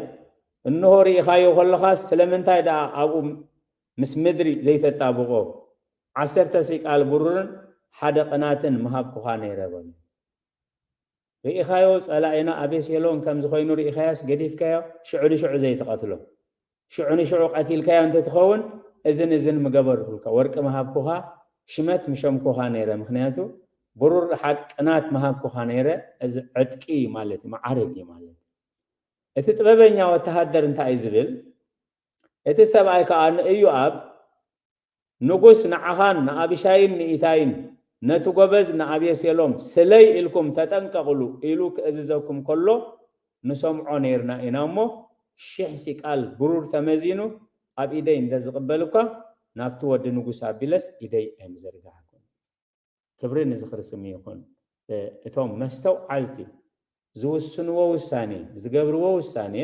እንሆ፣ ርኢኻዮ ኸሎኻስ፣ ስለምንታይ ደኣ ኣብኡ ምስ ምድሪ ዘይተጣብቖ? ዓሰርተ ሲቃል ብሩርን ሓደ ቕናትን ምሃብኩኻ ነይረ በሎ። ርኢኻዮ፣ ጸላኢና ኣቤሴሎም ከምዚ ዀይኑ ርኢኻዮስ ገዲፍካዮ፣ ሽዑ ንሽዑ ዘይትቐትሎ? ሽዑ ንሽዑ ቐቲልካዮ እንተ ትኸውን፣ እዝን እዝን ምገበርኩልካ፣ ወርቂ ምሃብኩኻ፣ ሽመት ምሸምኩኻ ነይረ፣ ምኽንያቱ፣ ብሩር፣ ሓድ፣ ቅናት ምሃብኩኻ ነይረ፣ እዚ ዕጥቂ እዩ ማለት እዩ፣ መዓርግ እዩ ማለት እዩ። እቲ ጥበበኛ ወተሃደር እንታይ እዩ ዚብል? እቲ ሰብኣይ ከኣ ንእዮኣብ፣ ንጉስ ንዓኻን ንኣቢሻይን ንኢታይን ነቲ ጐበዝ ንኣቤሴሎም ስለይ ኢልኩም ተጠንቀቕሉ ኢሉ ኺእዝዘኩም ከሎ ንሰምዖ ነይርና ኢና እሞ፣ ሽሕ ሲቃል ብሩር ተመዚኑ ኣብ ኢደይ እንተ ዚቕበል እኳ፣ ናብቲ ወዲ ንጉስ ኣቢለስ ኢደይ ኣይምዘርጋሕኩን። ክብሪ ንዝኽሪ ስም ይኹን። እቶም መስተውዓልቲ ዝውስንዎ ውሳኔ፣ ዝገብርዎ ውሳኔ፣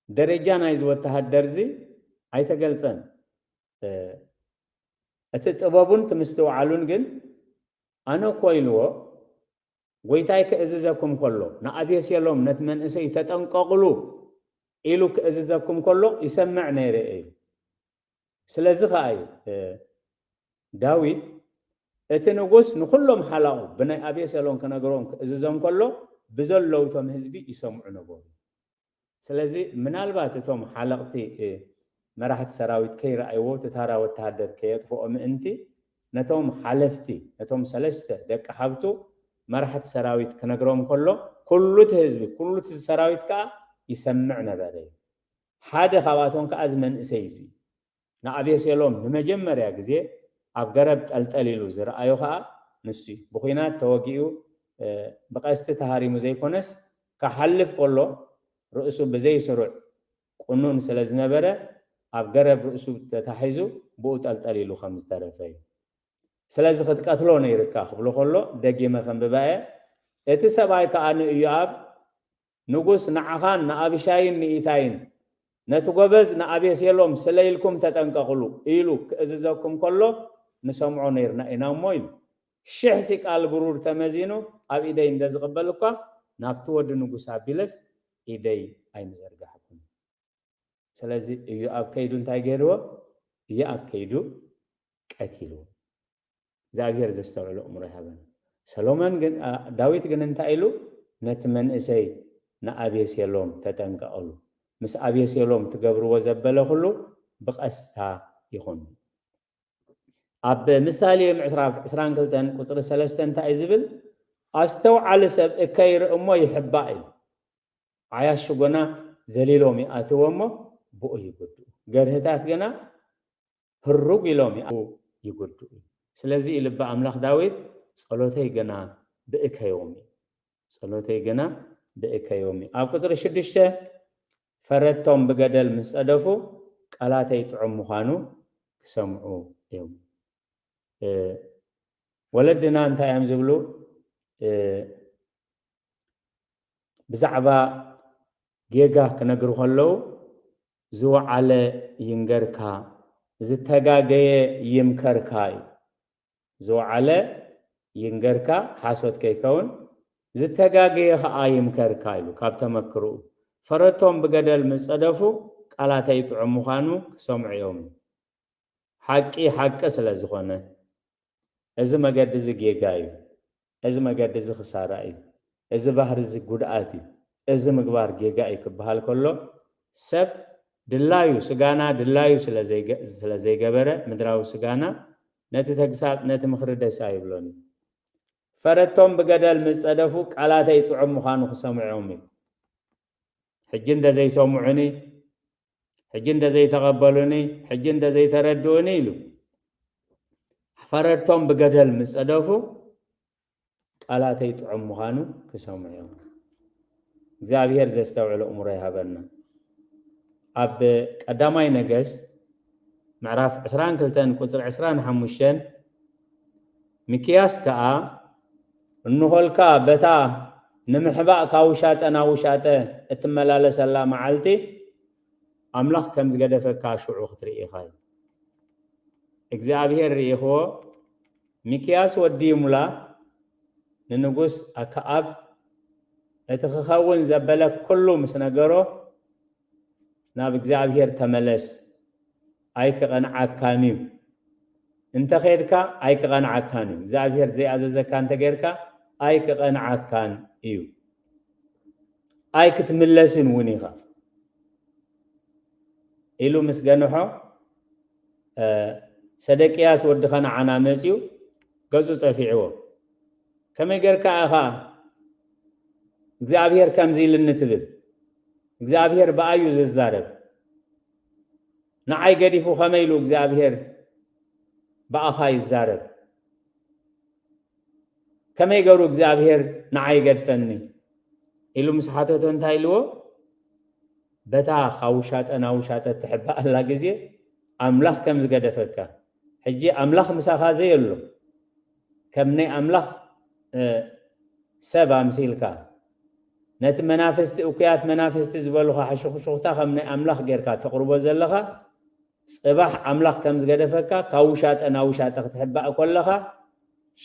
ደረጃ ናይዚ ወተሃደርዚ ኣይተገልጸን። እቲ ጥበቡን እቲ ምስትውዓሉን ግን ኣነ እኮ ኢልዎ ጎይታይ ክእዝዘኩም ከሎ ንኣቤሴሎም ነቲ መንእሰይ ተጠንቀቕሉ ኢሉ ክእዝዘኩም ከሎ ይሰምዕ ነይረ ኢዩ። ስለዚ ኸኣ እዩ ዳዊት እቲ ንጉስ ንዅሎም ሓላቑ ብናይ ኣቤሴሎም ክነግሮን ክእዝዞን ከሎ ብዘለዉ እቶም ህዝቢ ይሰምዑ ነበሩ። ስለዚ ምናልባት እቶም ሓለቕቲ መራሕቲ ሰራዊት ከይረኣይዎ እቲ ታራ ወተሃደር ከየጥፍኦ ምእንቲ ነቶም ሓለፍቲ ነቶም ሰለስተ ደቂ ሓብቱ መራሕቲ ሰራዊት ክነግሮም ከሎ ኵሉ እቲ ህዝቢ ኵሉ እቲ ሰራዊት ከኣ ይሰምዕ ነበረ እዩ። ሓደ ኻባቶም ከኣ እዚ መንእሰይ እዚ እዩ። ንኣቤሴሎም ንመጀመርያ ግዜ ኣብ ገረብ ጠልጠል ኢሉ ዝረኣዮ ኸኣ ንሱ እዩ። ብዂናት ተወጊኡ ብቐስቲ ተሃሪሙ ዘይኰነስ፣ ክሓልፍ ከሎ ርእሱ ብዘይ ስሩዕ ቁኑን ስለ ዝነበረ ኣብ ገረብ ርእሱ ተታሒዙ ብኡ ጠልጠል ኢሉ ከም ዝተረፈ እዩ። ስለዚ ኽትቀትሎ ነይሩካ ክብሎ ኸሎ ደጊመ ከንብባ እየ። እቲ ሰብኣይ ከኣ ንእዮኣብ ንጉስ ንዓኻን ንኣብሻይን ንኢታይን፣ ነቲ ጐበዝ ንኣቤሴሎም ስለ ኢልኩም ተጠንቀቕሉ ኢሉ ኪእዝዘኩም ከሎ ንሰምዖ ነይርና ኢና እሞ ኢሉ። ሽሕ ሲቃል ብሩር ተመዚኑ ኣብ ኢደይ እንደ ዝቕበል እኳ፣ ናብቲ ወዲ ንጉስ ኣቢለስ ኢደይ ኣይምዘርጋሕኩን። ስለዚ፣ ኢዮኣብ ከይዱ እንታይ ገይርዎ? ኢዮኣብ ከይዱ ቀቲልዎ። እግዚኣብሄር ዘስተውዕል ኣእምሮ ይሃበን። ሰሎሞን ግን ኣ ዳዊት ግን እንታይ ኢሉ ነቲ መንእሰይ ንኣቤሴሎም ተጠንቀቐሉ ምስ ኣቤሴሎም ትገብርዎ ዘበለ ኩሉ ብቐስታ ይኹን። ኣብ ምሳሌ ምዕስራፍ ዕስራን ክልተን ቁጽሪ ሰለስተ እንታይ እዩ ዝብል ኣስተውዓሊ ሰብ እከይ ይርኢ እሞ ይሕባእ እዩ ዓያሹ ግና ዘሊሎም ይኣትዎ እሞ ብኡ ይጉድኡ ገርህታት ግና ህሩግ ኢሎም ይኣትዉ ይጉድኡ እዩ። ስለዚ እዩ ልቢ ኣምላኽ ዳዊት ጸሎተይ ግና ብእከዮም እዩ ጸሎተይ ግና ብእከዮም እዩ። ኣብ ቁጽሪ ሽዱሽተ ፈረድቶም ብገደል ምስ ጸደፉ ቃላተይ ጥዑም ምዃኑ ክሰምዑ እዮም። ወለድና እንታይ እዮም ዝብሉ ብዛዕባ ጌጋ ክነግሩ ከለዉ ዝወዓለ ይንገርካ ዝተጋገየ ይምከርካ እዩ ዝወዓለ ይንገርካ ሓሶት ከይከውን ዝተጋገየ ከኣ ይምከርካ ኢሉ ካብ ተመክርኡ ፈረቶም ብገደል ምስ ጸደፉ ቃላተይ ጥዑም ምዃኑ ክሰምዑ እዮም ሓቂ ሓቂ ስለ ዝኾነ። እዚ መገዲ እዚ ጌጋ እዩ። እዚ መገዲ እዚ ክሳራ እዩ። እዚ ባህሪ እዚ ጉድኣት እዩ። እዚ ምግባር ጌጋ እዩ ክበሃል ከሎ ሰብ ድላዩ ስጋና ድላዩ ስለ ስለ ዘይገበረ ምድራዊ ስጋና ነቲ ተግሳጽ ነቲ ምኽሪ ደስ ኣይብሎን እዩ። ፈረቶም ብገደል ምስ ጸደፉ ቃላተይ ጥዑም ምዃኑ ክሰምዑም እዩ። ሕጂ እንተ ዘይሰምዑኒ ሕጂ እንተዘይተቐበሉኒ፣ ሕጂ እንተዘይተረድኡኒ ኢሉ ፈረድቶም ብገደል ምስ ጸደፉ ቃላተይ ጥዑም ምዃኑ ክሰምዑ እዮም። እግዚኣብሔር ዘስተውዕል ኣእምሮ ይሃበና። ኣብ ቀዳማይ ነገስት ምዕራፍ 22 ቁፅሪ 25 ሚክያስ ከዓ እንሆልካ በታ ንምሕባእ ካብ ውሻጠ ናብ ውሻጠ እትመላለሰላ መዓልቲ፣ ኣምላኽ ከም ዝገደፈካ ሽዑ ክትርኢ ኢኻ ኢሉ። እግዚኣብሄር ርኢኽዎ፣ ሚክያስ ወዲ ይሙላ ንንጉስ ኣከኣብ እቲ ክኸውን ዘበለ ኩሉ ምስ ነገሮ፣ ናብ እግዚኣብሄር ተመለስ ኣይክቐንዓካን እዩ እንተ ኼድካ ኣይክቐንዓካን እዩ እግዚኣብሄር ዘይኣዘዘካ እንተ ጌርካ ኣይክቐንዓካን እዩ ኣይክትምለስን እውን ኢኻ ኢሉ ምስ ገንሖ ሰደቅያስ ወዲ ኸነዓና መፅኡ ገፁ ፀፊዕዎ ከመይ ጌርካ ኢኻ እግዚኣብሄር ከምዚ ኢልኒ ትብል እግዚኣብሄር ብኣዩ ዝዛረብ ንዓይ ገዲፉ ከመይ ኢሉ እግዚኣብሄር ብኣኻ ይዛረብ ከመይ ገሩ እግዚኣብሄር ንዓይ ይገድፈኒ ኢሉ ምስ ሓተቶ እንታይ ኢልዎ በታ ካብ ውሻጠ ናብ ውሻጠ እትሕባኣላ ግዜ ኣምላኽ ከም ዝገደፈካ ሕጂ ኣምላኽ ምሳኻ ዘየሎ ከም ናይ ኣምላኽ ሰብ ኣምሲልካ ነቲ መናፍስቲ እኩያት መናፍስቲ ዝበሉኻ ሕሹኽሹኽታ ከም ናይ ኣምላኽ ጌርካ ተቕርቦ ዘለኻ ጽባሕ ኣምላኽ ከም ዝገደፈካ ካብ ውሻጠ ናብ ውሻጠ ክትሕባእ ኮለኻ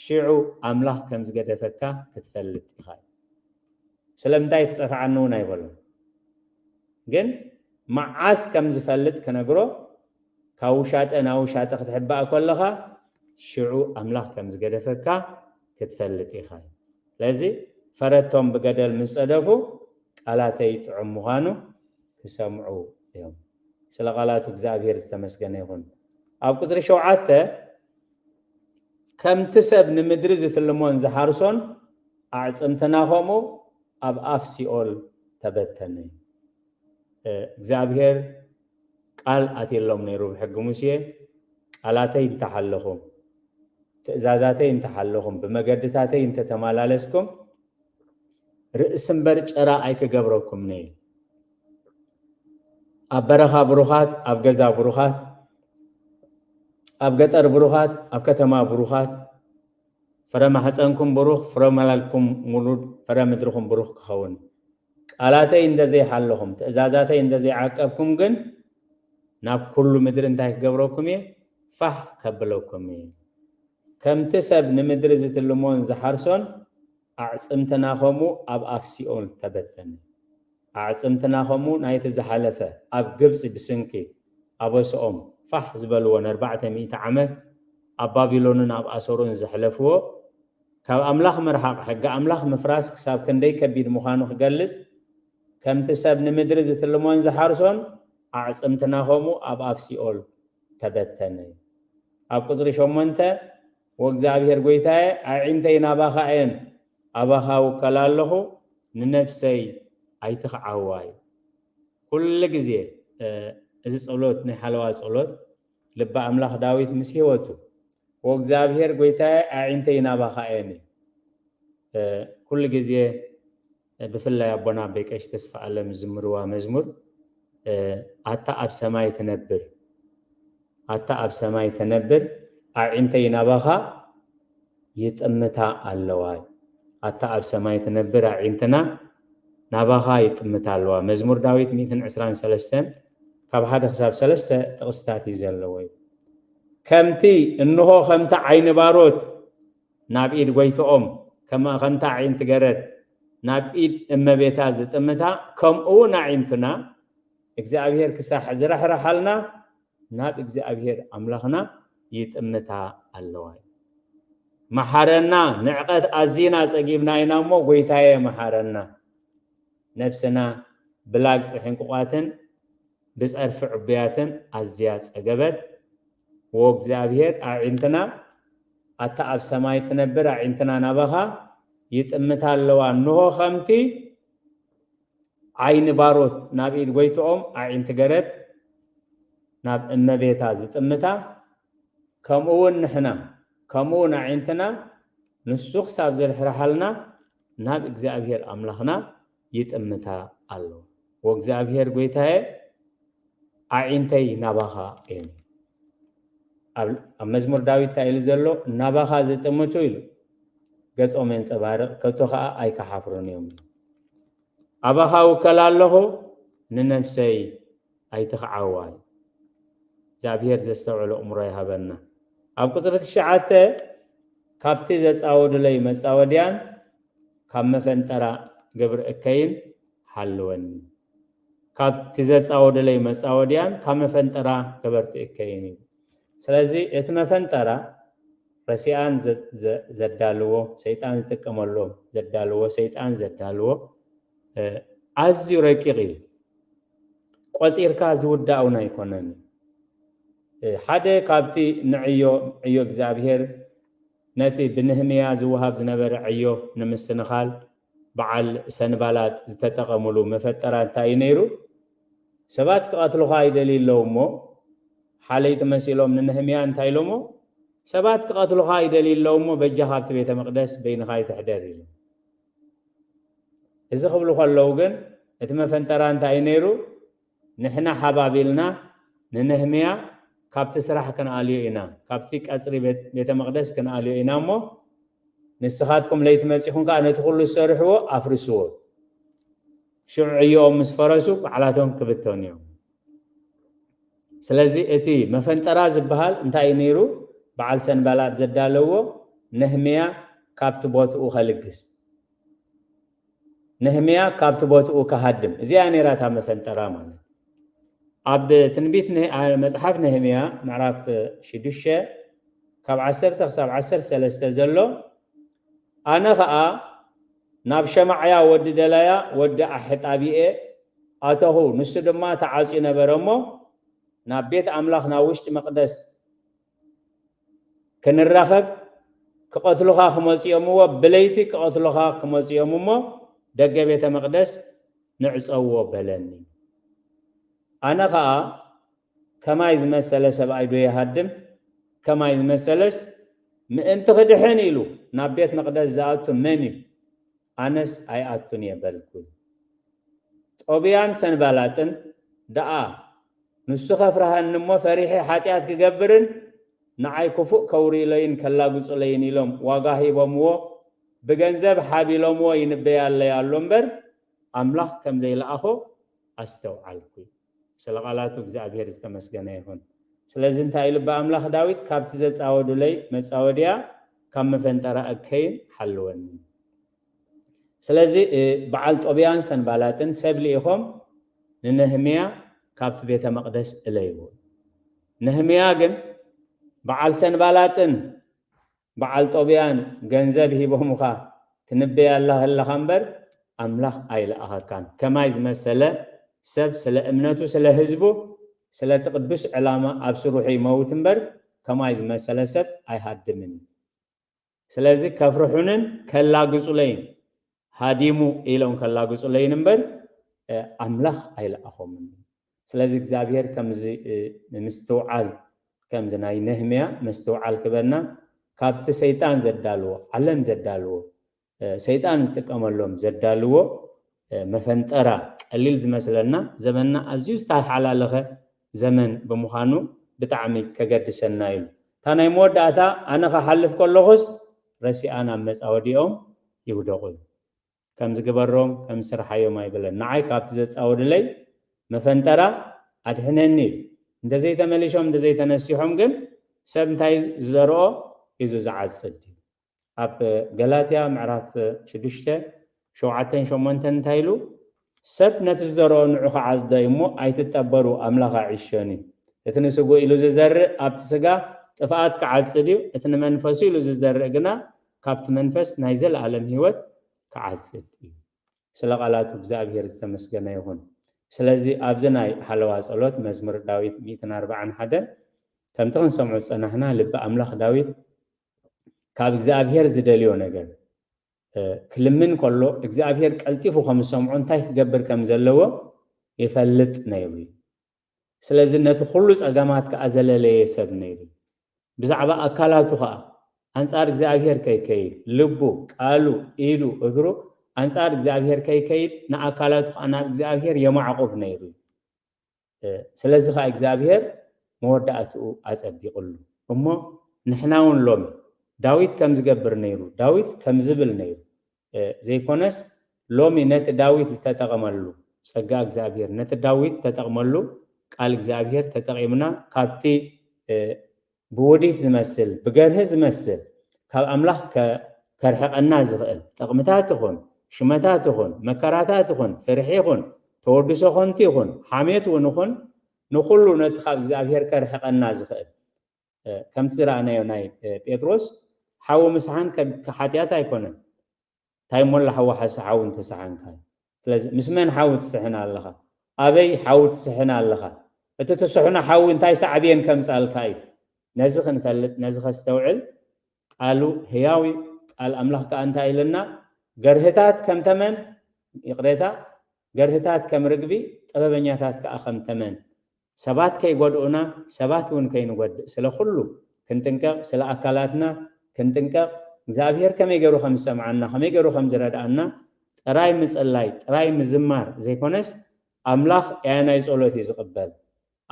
ሽዑ ኣምላኽ ከም ዝገደፈካ ክትፈልጥ ኢኻ እዩ ስለምንታይ ትጸፍዓኒ እውን ኣይበሎን ግን መዓስ ከም ዝፈልጥ ክነግሮ ካብ ውሻጠ ናብ ውሻጠ ክትሕባእ ኮለኻ ሽዑ ኣምላኽ ከም ዝገደፈካ ክትፈልጥ ኢኻ እዩ ስለዚ ፈረቶም ብገደል ምስ ጸደፉ ቃላተይ ጥዑም ምዃኑ ክሰምዑ እዮም ስለ ቃላቱ እግዚኣብሄር ዝተመስገነ ይኹን ኣብ ቁጽሪ ሸውዓተ ከምቲ ሰብ ንምድሪ ዝትልሞን ዝሓርሶን ኣዕጽምትና ከምኡ ኣብ ኣፍ ሲኦል ተበተነ እግዚኣብሄር ቃል ኣትየሎም ነይሩ ብሕጊ ሙሴ፣ ቃላተይ እንተ ሓለኹም፣ ትእዛዛተይ እንተ ሓለኹም፣ ብመገድታተይ እንተ ተማላለስኩም፣ ርእሲ እምበር ጨራ ኣይክገብረኩምንይ። ኣብ በረኻ ብሩኻት፣ ኣብ ገዛ ብሩኻት፣ ኣብ ገጠር ብሩኻት፣ ኣብ ከተማ ብሩኻት፣ ፍረ ማሕፀንኩም ብሩኽ፣ ፍረ ማላልኩም ሙሉድ፣ ፍረ ምድርኹም ብሩኽ ክኸውን። ቃላተይ እንተ ዘይሓለኹም፣ ትእዛዛተይ እንተ ዘይዓቀብኩም ግን፣ ናብ ኵሉ ምድሪ እንታይ ክገብረኩም እየ? ፋሕ ከብለኩም እየ። ከምቲ ሰብ ንምድሪ ዝትልሞን ዝሓርሶን፣ ኣዕጽምትና ኸምኡ ኣብ ኣፍ ሲኦል ተበተነ። ኣዕጽምትና ኸምኡ ናይቲ ዝሓለፈ፣ ኣብ ግብጺ ብስንኪ ኣበስኦም ፋሕ ዝበልዎ ንኣርባዕተ ሚእቲ ዓመት ኣብ ባቢሎንን ኣብ ኣሶርን ዘሕለፍዎ፣ ካብ ኣምላኽ ምርሓቕ ሕጊ ኣምላኽ ምፍራስ ክሳብ ክንደይ ከቢድ ምዃኑ ክገልጽ፣ ከምቲ ሰብ ንምድሪ ዝትልሞን ዝሓርሶን፣ ኣዕጽምትና ከምኡ ኣብ ኣፍ ሲኦል ተበተነ። ኣብ ቍጽሪ ሸሞንተ፣ ወእግዚኣብሔር ጐይታየ፣ ኣዒንተይ ናባኻ እየን፣ ኣባኻ እውከላ ኣለኹ፣ ንነፍሰይ ኣይትኽዓዋ እዩ። ኵሉ ግዜ እዚ ጸሎት ናይ ሓለዋ ጸሎት ልበ ኣምላኽ ዳዊት ምስ ህይወቱ፣ ኦ እግዚኣብሄር ጐይታየ ኣዒንተይ ናባኻ እየን እዩ። ኩሉ ግዜ ብፍላይ ኣቦና ኣበይ ቀሺ ተስፋኣለም ዝዝምርዋ መዝሙር ኣታ ኣብ ሰማይ ትነብር ኣታ ኣብ ሰማይ ተነብር ኣዒንተይ ናባኻ ይጥምታ ኣለዋ ኣታ ኣብ ሰማይ ትነብር ኣዒንትና ናባኻ ይጥምታ ኣለዋ መዝሙር ዳዊት ሚእትን ዕስራን ሰለስተን ካብ ሓደ ክሳብ ሰለስተ ጥቕስታት እዩ ዘለዎ እዩ ከምቲ እንሆ ከምቲ ዓይኒ ባሮት ናብ ኢድ ጎይትኦም ከማ ከምታ ኣዒንቲ ገረድ ናብ ኢድ እመቤታ ዝጥምታ ከምኡውን ኣዒንትና እግዚኣብሄር ክሳሕ ዝረሕረሓልና ናብ እግዚኣብሔር ኣምላኽና ይጥምታ ኣለዋ እዩ። መሓረና ንዕቀት ኣዚና ጸጊብና ኢና እሞ ጎይታየ መሓረና ነብስና ብላግጺ ሕንቁቋትን ብጸርፊ ዕቡያትን ኣዝያ ጸገበት ዎ እግዚኣብሔር ኣዒንትና ኣታ ኣብ ሰማይ ትነብር ኣዒንትና ናባኻ ይጥምታ ኣለዋ እንሆ ከምቲ ዓይኒ ባሮት ናብ ኢድ ጎይትኦም ኣዒንቲ ገረብ ናብ እመቤታ ዝጥምታ ከምኡ ውን ንሕና ከምኡ ውን ኣዒንትና ንሱ ክሳብ ዝርሕርሓልና ናብ እግዚኣብሄር ኣምላኽና ይጥምታ ኣለዋ ወእግዚኣብሄር ጎይታየ ኣዒንተይ ናባኻ እየን። ኣብ ኣብ መዝሙር ዳዊት እንታይ ኢሉ ዘሎ? ናባኻ ዘጠመቱ ኢሉ ገጾም የንጸባርቕ፣ ከቶ ኸኣ ኣይከሓፍሩን እዮም ኢሉ። ኣባኻ ውከል ኣለኹ፣ ንነፍሰይ ኣይትኽዓዋ ኢሉ። እግዚኣብሄር ዘስተውዕል ኣእምሮ ይሃበና። ኣብ ቁጽሪ ትሽዓተ ካብቲ ዘጻወዱለይ መጻወድያን ካብ መፈንጠራ ግብሪ እከይን ሓልወኒ። ካብ እቲ ዘጻወድለይ መጻወድያን ካብ መፈንጠራ ገበርቲ እከይን እዩ። ስለዚ እቲ መፈንጠራ ረሲኣን ዘዳልዎ ሰይጣን ዝጥቀመሉ ዘዳልዎ ሰይጣን ዘዳልዎ ኣዝዩ ረቂቕ እዩ። ቆጺርካ ዝውዳእ እውን ኣይኮነን እዩ። ሓደ ካብቲ ንዕዮ ዕዮ እግዚኣብሄር ነቲ ብንህምያ ዝወሃብ ዝነበረ ዕዮ ንምስንኻል በዓል ሰንባላጥ ዝተጠቐምሉ መፈጠራ እንታይ እዩ ነይሩ? ሰባት ክቐትሉኻ ይደልዩ ኣለዉ እሞ፣ ሓለይቲ መሲሎም ንነህምያ እንታይ ኢሎሞ? ሰባት ክቐትሉኻ ይደልዩ ኣለዉ እሞ፣ በጃኻ ኣብቲ ቤተ መቕደስ በይንኻ ኣይትሕደር ኢሎም። እዚ ክብሉ ከለዉ ግን እቲ መፈንጠራ እንታይ እዩ ነይሩ? ንሕና ሓባቢልና ንነህምያ ካብቲ ስራሕ ክንኣልዮ ኢና፣ ካብቲ ቀጽሪ ቤተ መቕደስ ክንኣልዮ ኢና እሞ፣ ንስኻትኩም ለይቲ መጺኹም ከኣ ነቲ ዅሉ ዝሰርሕዎ ኣፍርስዎ። ሽዑ ዕዮኦም ምስ ፈረሱ ባዕላቶም ክብተኑ እዮም። ስለዚ እቲ መፈንጠራ ዝበሃል እንታይ እዩ ነይሩ? በዓል ሰንባላጥ ዘዳለዎ ነህምያ ካብቲ ቦትኡ ኸልግስ። ነህምያ ካብቲ ቦትኡ ክሃድም። እዚኣ እያ ነይራ እታ መፈንጠራ ማለት። ኣብ ትንቢት መጽሓፍ ነህምያ ምዕራፍ ሽዱሽተ ካብ ዓሰርተ ክሳብ ዓሰርተ ሰለስተ ዘሎ ኣነ ኸኣ ናብ ሸማዕያ ወዲ ደላያ ወዲ ኣሕጣብየ ኣተኹ፣ ንሱ ድማ ተዓጽዩ ነበረ እሞ፣ ናብ ቤት ኣምላኽ ናብ ውሽጢ መቕደስ ክንራኸብ ክቐትሉኻ ክመጽኦምዎ ብለይቲ ክቐትሉኻ ክመጽኦም እሞ ደገ ቤተ መቕደስ ንዕጸዎ በለኒ። ኣነ ኸኣ ከማይ ዝመሰለ ሰብኣይ ዶ ይሃድም? ከማይ ዝመሰለስ ምእንቲ ክድሕን ኢሉ ናብ ቤት መቕደስ ዝኣቱ መን እዩ? ኣነስ ኣይኣቱን እየ በልኩ። ጦብያን ሰንባላጥን ደኣ፣ ንሱ ኼፍርሃኒ እሞ ፈሪሐ ሓጢኣት ክገብርን ንዓይ ክፉእ ኬውርዩለይን ኬላግጹለይን ኢሎም ዋጋ ሂቦምዎ፣ ብገንዘብ ሓቢሎምዎ ይንበያለይ ኣሎ እምበር፣ ኣምላኽ ከም ዘይለኣኾ ኣስተውዓልኩ። ስለ ቃላቱ እግዚኣብሄር ዝተመስገነ ይኹን። ስለዚ እንታይ ኢሉ እባ ኣምላኽ ዳዊት ካብቲ ዘጻወዱለይ መጻወድያ ካብ መፈንጠራ እከይን ሓልወኒ። ስለዚ በዓል ጦብያን ሰንባላጥን ሰብ ልኢኾም ንነህምያ ካብቲ ቤተ መቕደስ እለይዎ። ነህምያ ግን በዓል ሰንባላጥን በዓል ጦብያን ገንዘብ ሂቦሙካ ትንብየላ ከለካ እምበር ኣምላክ ኣይልኣከካን ከማይ ዝመሰለ ሰብ ስለ እምነቱ ስለ ህዝቡ ስለቲ ቅዱስ ዕላማ ኣብ ስሩሑ ይመውት እምበር ከማይ ዝመሰለ ሰብ ኣይሃድምን እዩ ስለዚ ከፍርሑንን ከላግጹለይን ሃዲሙ ኢሎም ከላግጹለይን እምበር ኣምላኽ ኣይለኣኾምን። ስለዚ እግዚኣብሄር ከምዚ ምስትውዓል ከምዚ ናይ ነህምያ ምስትውዓል ክበና ካብቲ ሰይጣን ዘዳልዎ ዓለም ዘዳልዎ ሰይጣን ዝጥቀመሎም ዘዳልዎ መፈንጠራ ቀሊል ዝመስለና ዘበንና ኣዝዩ ዝተሓላለኸ ዘመን ብምዃኑ ብጣዕሚ ከገድሰና ዩ። እታ ናይ መወዳእታ ኣነ ክሓልፍ ከለኹስ ረሲኣ ናብ መጻወዲኦም ይውደቑ ዩ። ከምዚ ግበሮም ከምዚ ስርሓዮም ኣይብለን። ንዓይ ካብቲ ዘጻውድለይ መፈንጠራ ኣድሕነኒ ዩ። እንተዘይተመሊሾም እንተዘይተነሲሖም ግን ሰብ እንታይ ዝዘርኦ ሒዙ ዝዓጽድ ዩ። ኣብ ገላትያ ምዕራፍ ሽዱሽተ ሸውዓተን ሸሞንተን እንታይ ኢሉ? ሰብ ነቲ ዝዘርኦ ንዑ ክዓጽዶ እዩ እሞ፣ ኣይትጠበሩ፣ ኣምላኽ ኣዕሾን እዩ። እቲ ንስግኡ ኢሉ ዝዘርእ ኣብቲ ስጋ ጥፍኣት ክዓጽድ እዩ፣ እቲ ንመንፈሱ ኢሉ ዝዘርእ ግና ካብቲ መንፈስ ናይ ዘለኣለም ህይወት ክዓጽድ እዩ። ስለ ቃላቱ እግዚኣብሄር ዝተመስገነ ይኹን። ስለዚ ኣብዚ ናይ ሓለዋ ጸሎት መዝሙር ዳዊት ሚእትን ኣርባዓን ሓደን ከምቲ ክንሰምዖ ዝጸናሕና ልቢ ኣምላኽ ዳዊት ካብ እግዚኣብሄር ዝደልዮ ነገር ክልምን ከሎ እግዚኣብሄር ቀልጢፉ ከም ዝሰምዖ እንታይ ክገብር ከም ዘለዎ ይፈልጥ ነይሩ እዩ። ስለዚ ነቲ ኩሉ ጸገማት ከኣ ዘለለየ ሰብ ነይሩ እዩ። ብዛዕባ ኣካላቱ ከኣ ኣንጻር እግዚኣብሄር ከይከይድ ልቡ፣ ቃሉ፣ ኢዱ፣ እግሩ ኣንጻር እግዚኣብሄር ከይከይድ ንኣካላቱ ከኣ ናብ እግዚኣብሄር የማዕቑብ ነይሩ እዩ። ስለዚ ኸኣ እግዚኣብሄር መወዳእትኡ ኣጸቢቕሉ እሞ ንሕናውን ሎሚ ዳዊት ከም ዝገብር ነይሩ ዳዊት ከም ዝብል ነይሩ ዘይኮነስ ሎሚ ነቲ ዳዊት ዝተጠቐመሉ ጸጋ እግዚኣብሄር ነቲ ዳዊት ተጠቕመሉ ቃል እግዚኣብሄር ተጠቒምና ካብቲ ብውዲት ዝመስል ብገርሂ ዝመስል ካብ ኣምላኽ ከርሕቀና ዝኽእል ጥቕምታት ይኹን ሽመታት ይኹን መከራታት ይኹን ፍርሒ ይኹን ተወድሶ ኾንቱ ይኹን ሓሜት እውን ይኹን ንኹሉ ነቲ ካብ እግዚኣብሔር ከርሕቀና ዝኽእል ከምቲ ዝረኣናዮ ናይ ጴጥሮስ ሓዊ ምስሓን ሓጢኣት ኣይኮነን ታይ እሞ ኣላ ሓው ሓሰ ሓው እንተሰሓንካዩ ስለዚ ምስ መን ሓው ትስሕን ኣለኻ ኣበይ ሓው ትስሕን ኣለኻ እቲ ትስሕኖ ሓዊ እንታይ ሳዕቤን ከምጻልካ እዩ ነዚ ክንፈልጥ ነዚ ከስተውዕል ቃሉ ህያው እዩ ቃል ኣምላኽ ከኣ እንታይ ኢለና ገርህታት ከም ተመን ይቕሬታ ገርህታት ከም ርግቢ ጥበበኛታት ከኣ ከም ተመን ሰባት ከይጎድኡና ሰባት እውን ከይንጎድእ ስለ ኩሉ ክንጥንቀቅ ስለ ኣካላትና ክንጥንቀቅ እግዚኣብሔር ከመይ ገይሩ ከም ዝሰምዓና ከመይ ገይሩ ከም ዝረድኣና ጥራይ ምጽላይ ጥራይ ምዝማር ዘይኮነስ ኣምላኽ ኣየናይ ጸሎት እዩ ዝቕበል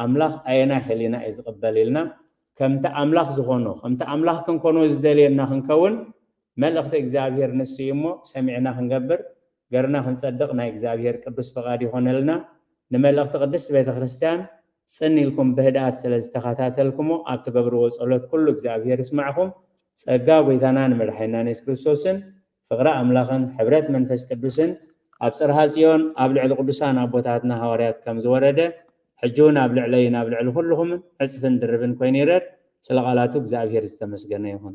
ኣምላኽ ኣየናይ ሕሊና እዩ ዝቕበል ኢልና ከምቲ ኣምላኽ ዝኾኖ ከምቲ ኣምላኽ ክንኮኖ ዝደልየና ክንከውን መልእኽቲ እግዚኣብሔር ንሱ እዩ እሞ ሰሚዕና ክንገብር ገርና ክንጸድቅ ናይ እግዚኣብሔር ቅዱስ ፍቃድ ይኾነልና ንመልእኽቲ ቅድስት ቤተ ክርስቲያን ጽን ኢልኩም ብህድኣት ስለ ዝተኸታተልክሞ ኣብ ትገብርዎ ጸሎት ኩሉ እግዚኣብሔር ይስማዕኹም ጸጋ ጎይታናን መድሓኒናን የሱስ ክርስቶስን ፍቅሪ ኣምላኽን ሕብረት መንፈስ ቅዱስን ኣብ ጽርሃ ጽዮን ኣብ ልዕሊ ቅዱሳን ኣቦታትና ሃዋርያት ከም ዝወረደ ሕጂ ውን ኣብ ልዕለይን ኣብ ልዕሊ ኩልኹምን ዕጽፍን ድርብን ኮይኑ ይረድ ስለ ቃላቱ እግዚኣብሔር ዝተመስገነ ይኹን።